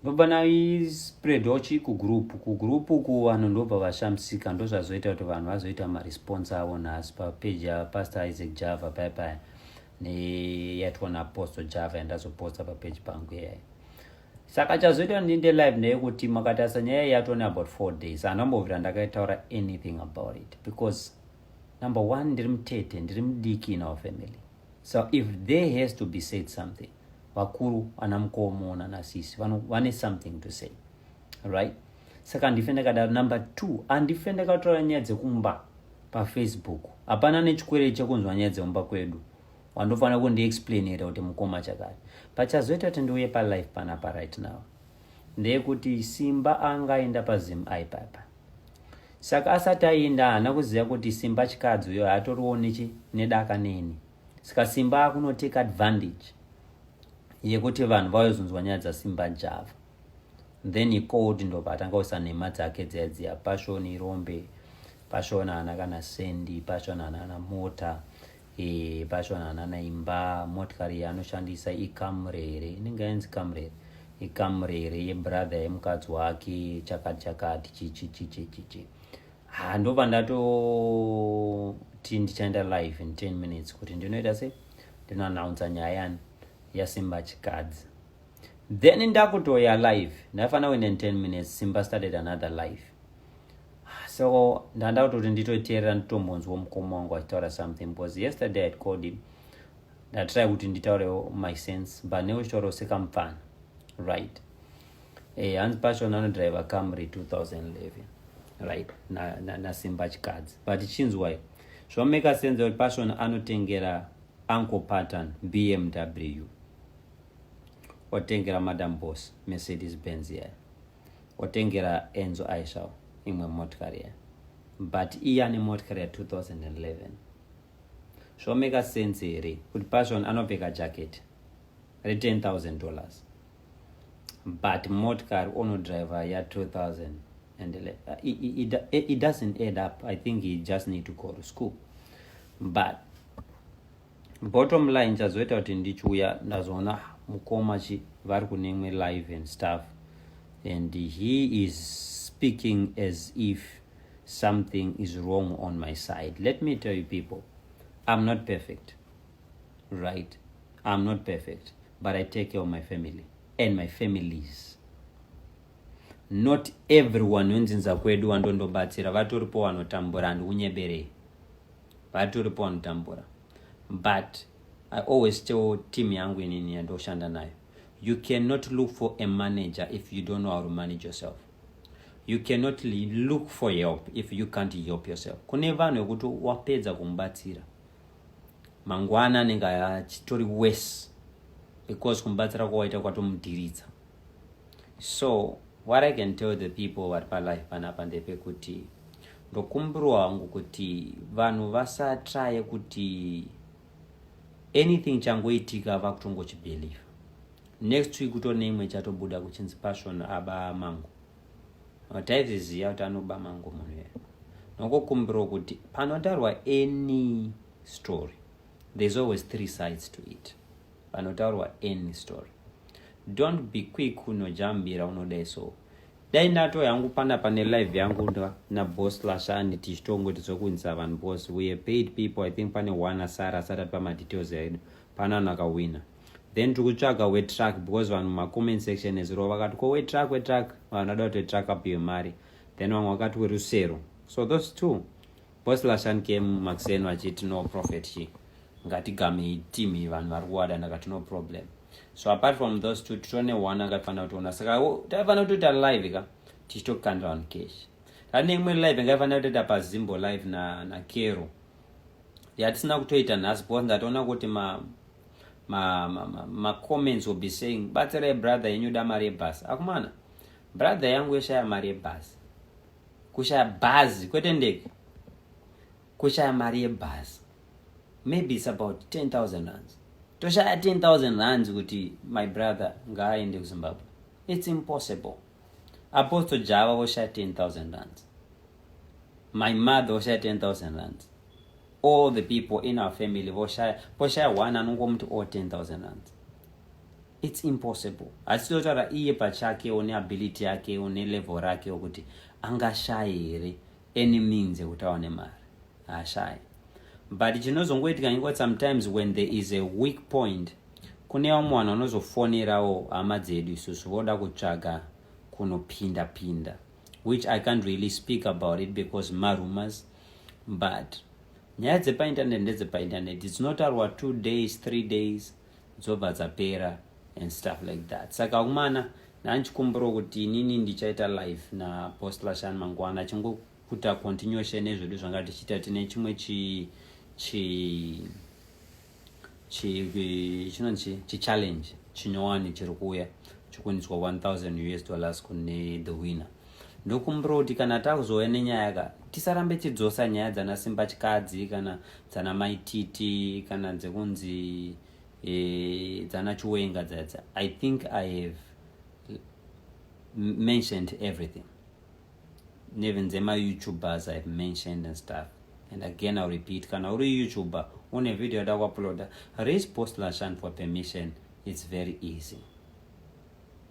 ndobva naispreadwa chii kugroup kugroup uku vanhu ndobva vashamisika ndozvazoita kuti vanhu vazoita maresponse avo nhasi papeji yapastor isaac java paipaya neyaitwa naapostle java yandazoposta papeji pangu iyayo saka chazoita ndiinde live ndeyekuti makatarisa nyaya yatone about four days handambovira ndakaitaura anything about it because number one ndiri mutete ndiri mudiki in our family so if there has to be said something vakuru ana mukomo nanasisi vane something to say right saka handife ndakadaro number two handife ndakataura nyaya dzekumba pafacebook hapana nechikwereti chekunzwa nyaya dzemumba kwedu wandofanira kundiexplainira kuti mukoma chakati pachazoita kuti ndiuye palife panapa right now ndeyekuti simba anga aenda pazim aipapa saka asati aenda haana kuziva kuti simba chikadzi uyo haatoriwo nechi nedaka neni saka simba akunotake advantage yekuti vanhu vaozonzwa nyaya dzasimba java then he called ndobva atanga kuisa nhema dzake dziya dziya pashoni rombe pashoni haana kana sendi pashoni haana kana mota e, pashoni haana kana imba motikari yaanoshandisa ikamurere inenge yainzi kamurere ikamurere yebrother yemukadzi wake chakati chakati chichi chichi chichi ha ndobva ndatoti ndichaenda live in 10 minutes kuti ndinoita se ndinoannounsa nyaya yani yasimba chikadzi then ndakutoya live ndaifana wina in 10 minutes simba started another live ah, so ndanda kutoti nditoiteerera nditombonzwa mukoma wangu achitaura something because yesterday had called him ndatry kuti nditaurewo my sense but ne uchitaurawo sekamupfana right eh, hanzi pachona anodriver camry 2011 right nasimba na, na chikadzi but chinzwai zvameka senza kuti pachona anotengera uncle pattern bmw Watengera madam boss Mercedes Benz iya. Watengera Enzo Aisha imwe motikari iya. But iya ne motikari ya 2011. Zvomeka sense here kuti Passion anopfeka jacket re 10000 dollars. But motikari ono driver ya 2000 and it, it, it, it doesn't add up. I think he just need to go to school. But bottom line chazoita kuti ndichiuya ndazoona mukoma chi vari kunemwe live and stuff and he is speaking as if something is wrong on my side let me tell you people i'm not perfect right i'm not perfect but i take care of my family and my families not everyone wenzindza kwedu wandondobatsira vatoripo wanotambura ndikunyeberei vati uripo vanotambura but i always tell team yangu inini yandoshanda nayo you cannot look for a manager if you don't know how to manage yourself you cannot look for help if you can't help yourself kune vanhu vekuti wapedza kumubatsira mangwana anenge achitori worse because kumubatsira kwawaita kwatomudhiridza so what i can tell the people vari palife panapa ndepekuti ndokumbirwa hangu kuti vanhu vasatraye kuti anything changoitika vakutongochibelieve next week kutone imwe chatobuda kuchinzi passion aba mangu taizviziva kuti anoba mangu munhu yeye nokukumbirwa kuti panotaurwa any story there's always three sides to it panotaurwa any story Don't be quick kunojambira unodai so. Dai ndato yangu pana pane live yangu na boss Lashani tichitongoti zvokunzisa vanhu boss we paid people I think pane one asara asati atipa ma details edu pana vanhu akawina. Then tiri kutsvaga we truck because vanhu ma comment section ezuro vakati ko we truck we truck vanhu vada kuti truck up yemari. Then vamwe vakati we rusero. So those two Boss Lashan came makuseni vachiti no prophet chi ngatigamei team vanhu vari kuwada ndakati no problem so apart from those two titone one akaifanira kutiona saka taifanira kutoita live ka tichitokanda vanhu cash tane imwe live ingaifanira kutoita pazimbo live na, na kero yatisina kutoita nhasi because ndatoona kuti ma ma, ma, ma, ma comments will be saying batsirai brother yenyu da mari yebhasi akumana brother yangu yeshaya mari yebhasi kushaya bhazi kwete ndege kushaya mari yebhazi maybe its about 10000 rands toshaya 10000 rands kuti my brother ngaaende kuzimbabwe its impossible apostle java voshaya 10000 rands my mother voshaya 10000 rands all the people in our family voshaya poshaya one anongomuti o 10000 rands It's impossible. Asi totaura iye pachake one ability yake one level rake okuti angashaye here any means ekuti awane mari. Haashaye. But chinozongoitika ingot sometimes when there is a weak point kune vamwe vanhu vanozofonerawo hama dzedu isusu voda kutsvaga kunopinda pinda which I can't really speak about it because marumors but nyaya dzepainternet ndedzepainternet dzinotaurwa two days three days dzobva dzapera and stuff like that saka vakomana ndandichikumbirawo kuti inini ndichaita live naapostla shan mangwana achingokuta continuation nezvedu zvanga tichiita tine chimwe chi chi chinonzi chichallenge chinyowani chiri kuuya chikuunzwa 1000 us dollars kune the winner ndokumbira kuti kana takuzouya nenyaya ka tisarambe tidzosa nyaya dzana simba chikadzi kana dzana maititi kana dzekunzi e, dzana chiwenga dzadza i think i have mentioned everything even dzema youtubers ihave mentioned and stuff and again iw repeat kana uri youtuber une video yada kuuploada raise post lashan for permission it's very easy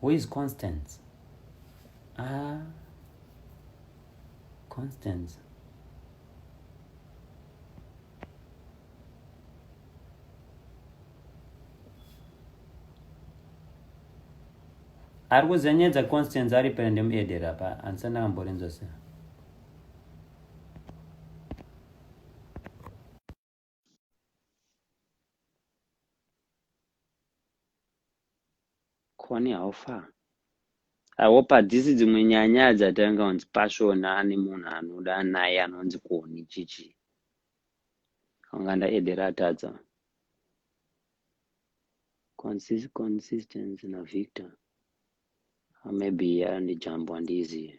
Who is Constance? Ah, Constance. ari kuziva nyaya dzaconstance ari pera ndemuedera pa andisati ndakamborinzwa sei Kone how far? I hope hadzisi dzimwe nyaya dzatanga kunzi pashona ane munhu anoda naye anonzi koni chichi anga ndaedera atadza Consist, consistency navictor maybe andijambo handizive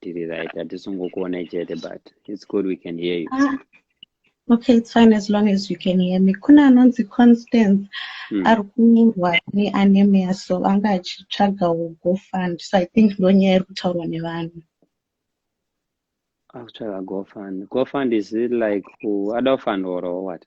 tiri right hatisungokuonai chete but its good we can hear you ah, okay
its fine as long as you can hear me kune anonzi constance hmm. ari kurwara neanemia so anga achitsvaga gofund so i think ndo nyaya iri kutaurwa nevanhu
akutsvaga gofund gofund is it like adofund or what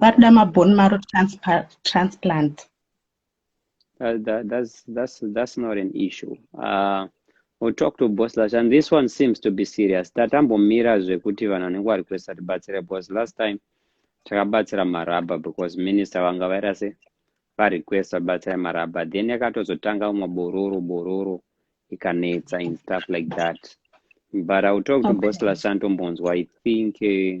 varikuda mabone maro transplant that,
that, that's, that's, that's not an issue uh, we'll talk to boss lash and this one seems to be serious tatambomira zvekuti vanhu vanenge vari kuesa tibatsire bos last time takabatsira maraba because minister vanga vaira se varequest vabatsira maraba then yakatozotanga umwe bororo bororo ikanetsa in stuff like that but i will talk to okay. boss lash antombonzwa i think uh,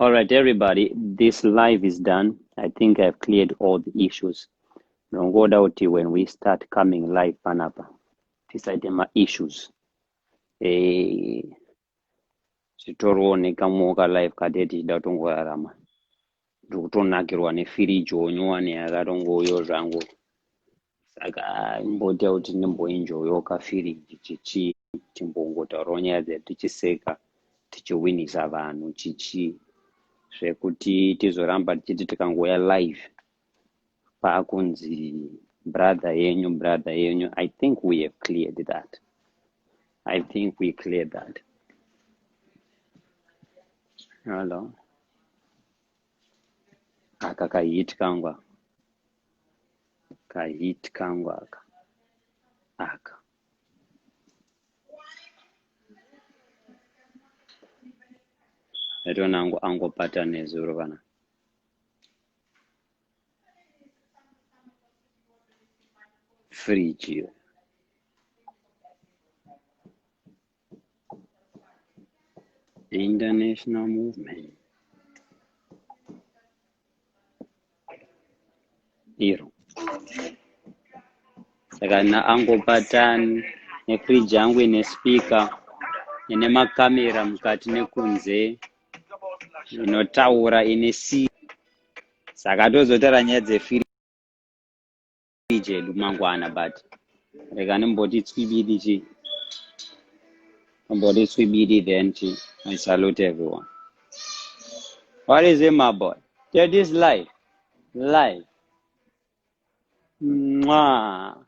All right, everybody, this live is done. I think I've cleared all the issues. Nongoda kuti when we start coming live panapa, tisaite ma issues. Eh, zvitorooneka muoka live kade tichida kutongorarama. Ndiri kutonakirwa nefiriji wonyowani yakatongoyo zvangu. saka imboita kuti ndimboenjoyoka firi chichi timbongotaurawo nyaya dzedu tichiseka tichiwinisa vanhu chichi zvekuti tizoramba tichiti tikangouya live paakunzi brother yenyu brother yenyu i think we have cleared that i think we cleared that hello aka kahit kangwa Ka hit kangu aka. Aka. Ndaitona angu angopata nezuro vana. Fridge iyo. The international movement iro saka naangopatani nefridge yangu ine speaker ine makamera mukati nekunze inotaura ine si saka tozotaura nyaya dzefiri chedu mangwana but rega ndimboti tswibidi chi ndimboti tswibidi then chi i salute everyone what is it my boy that is life life mwa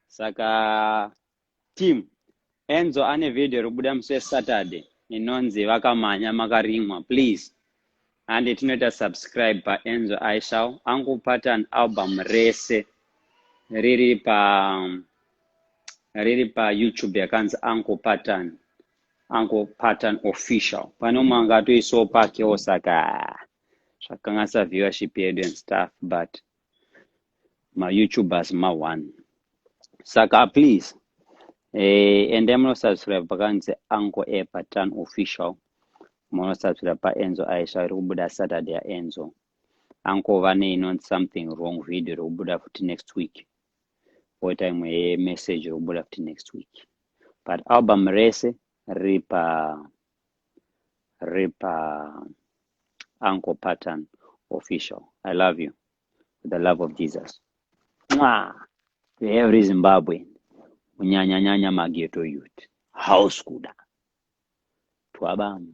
saka Team, Enzo ane video iribuda musi weSaturday inonzi vakamanya makarimwa please hande tinoita subscribe paEnzo Aishau angu pattern album rese riri pa riri paYouTube yakanzi Uncle Pattern Uncle Pattern Official pane umwe anga atoisawo pakewo saka zvakanganisa viewership yedu and stuff but mayoutubers ma-one saka please eh, endai munosubscribe pakanzi anko epa tan official munosubscribe paenzo aisha iri kubuda saturday yaenzo anko vane inonzi something wrong video iri kubuda futi next week poita imwe yemessage iri kubuda futi next week but album rese riri pa rip uh, uncle pattern official i love you with the love of jesus Mwah! to every zimbabwean kunyanyanyanya mageto youth house kuda twabam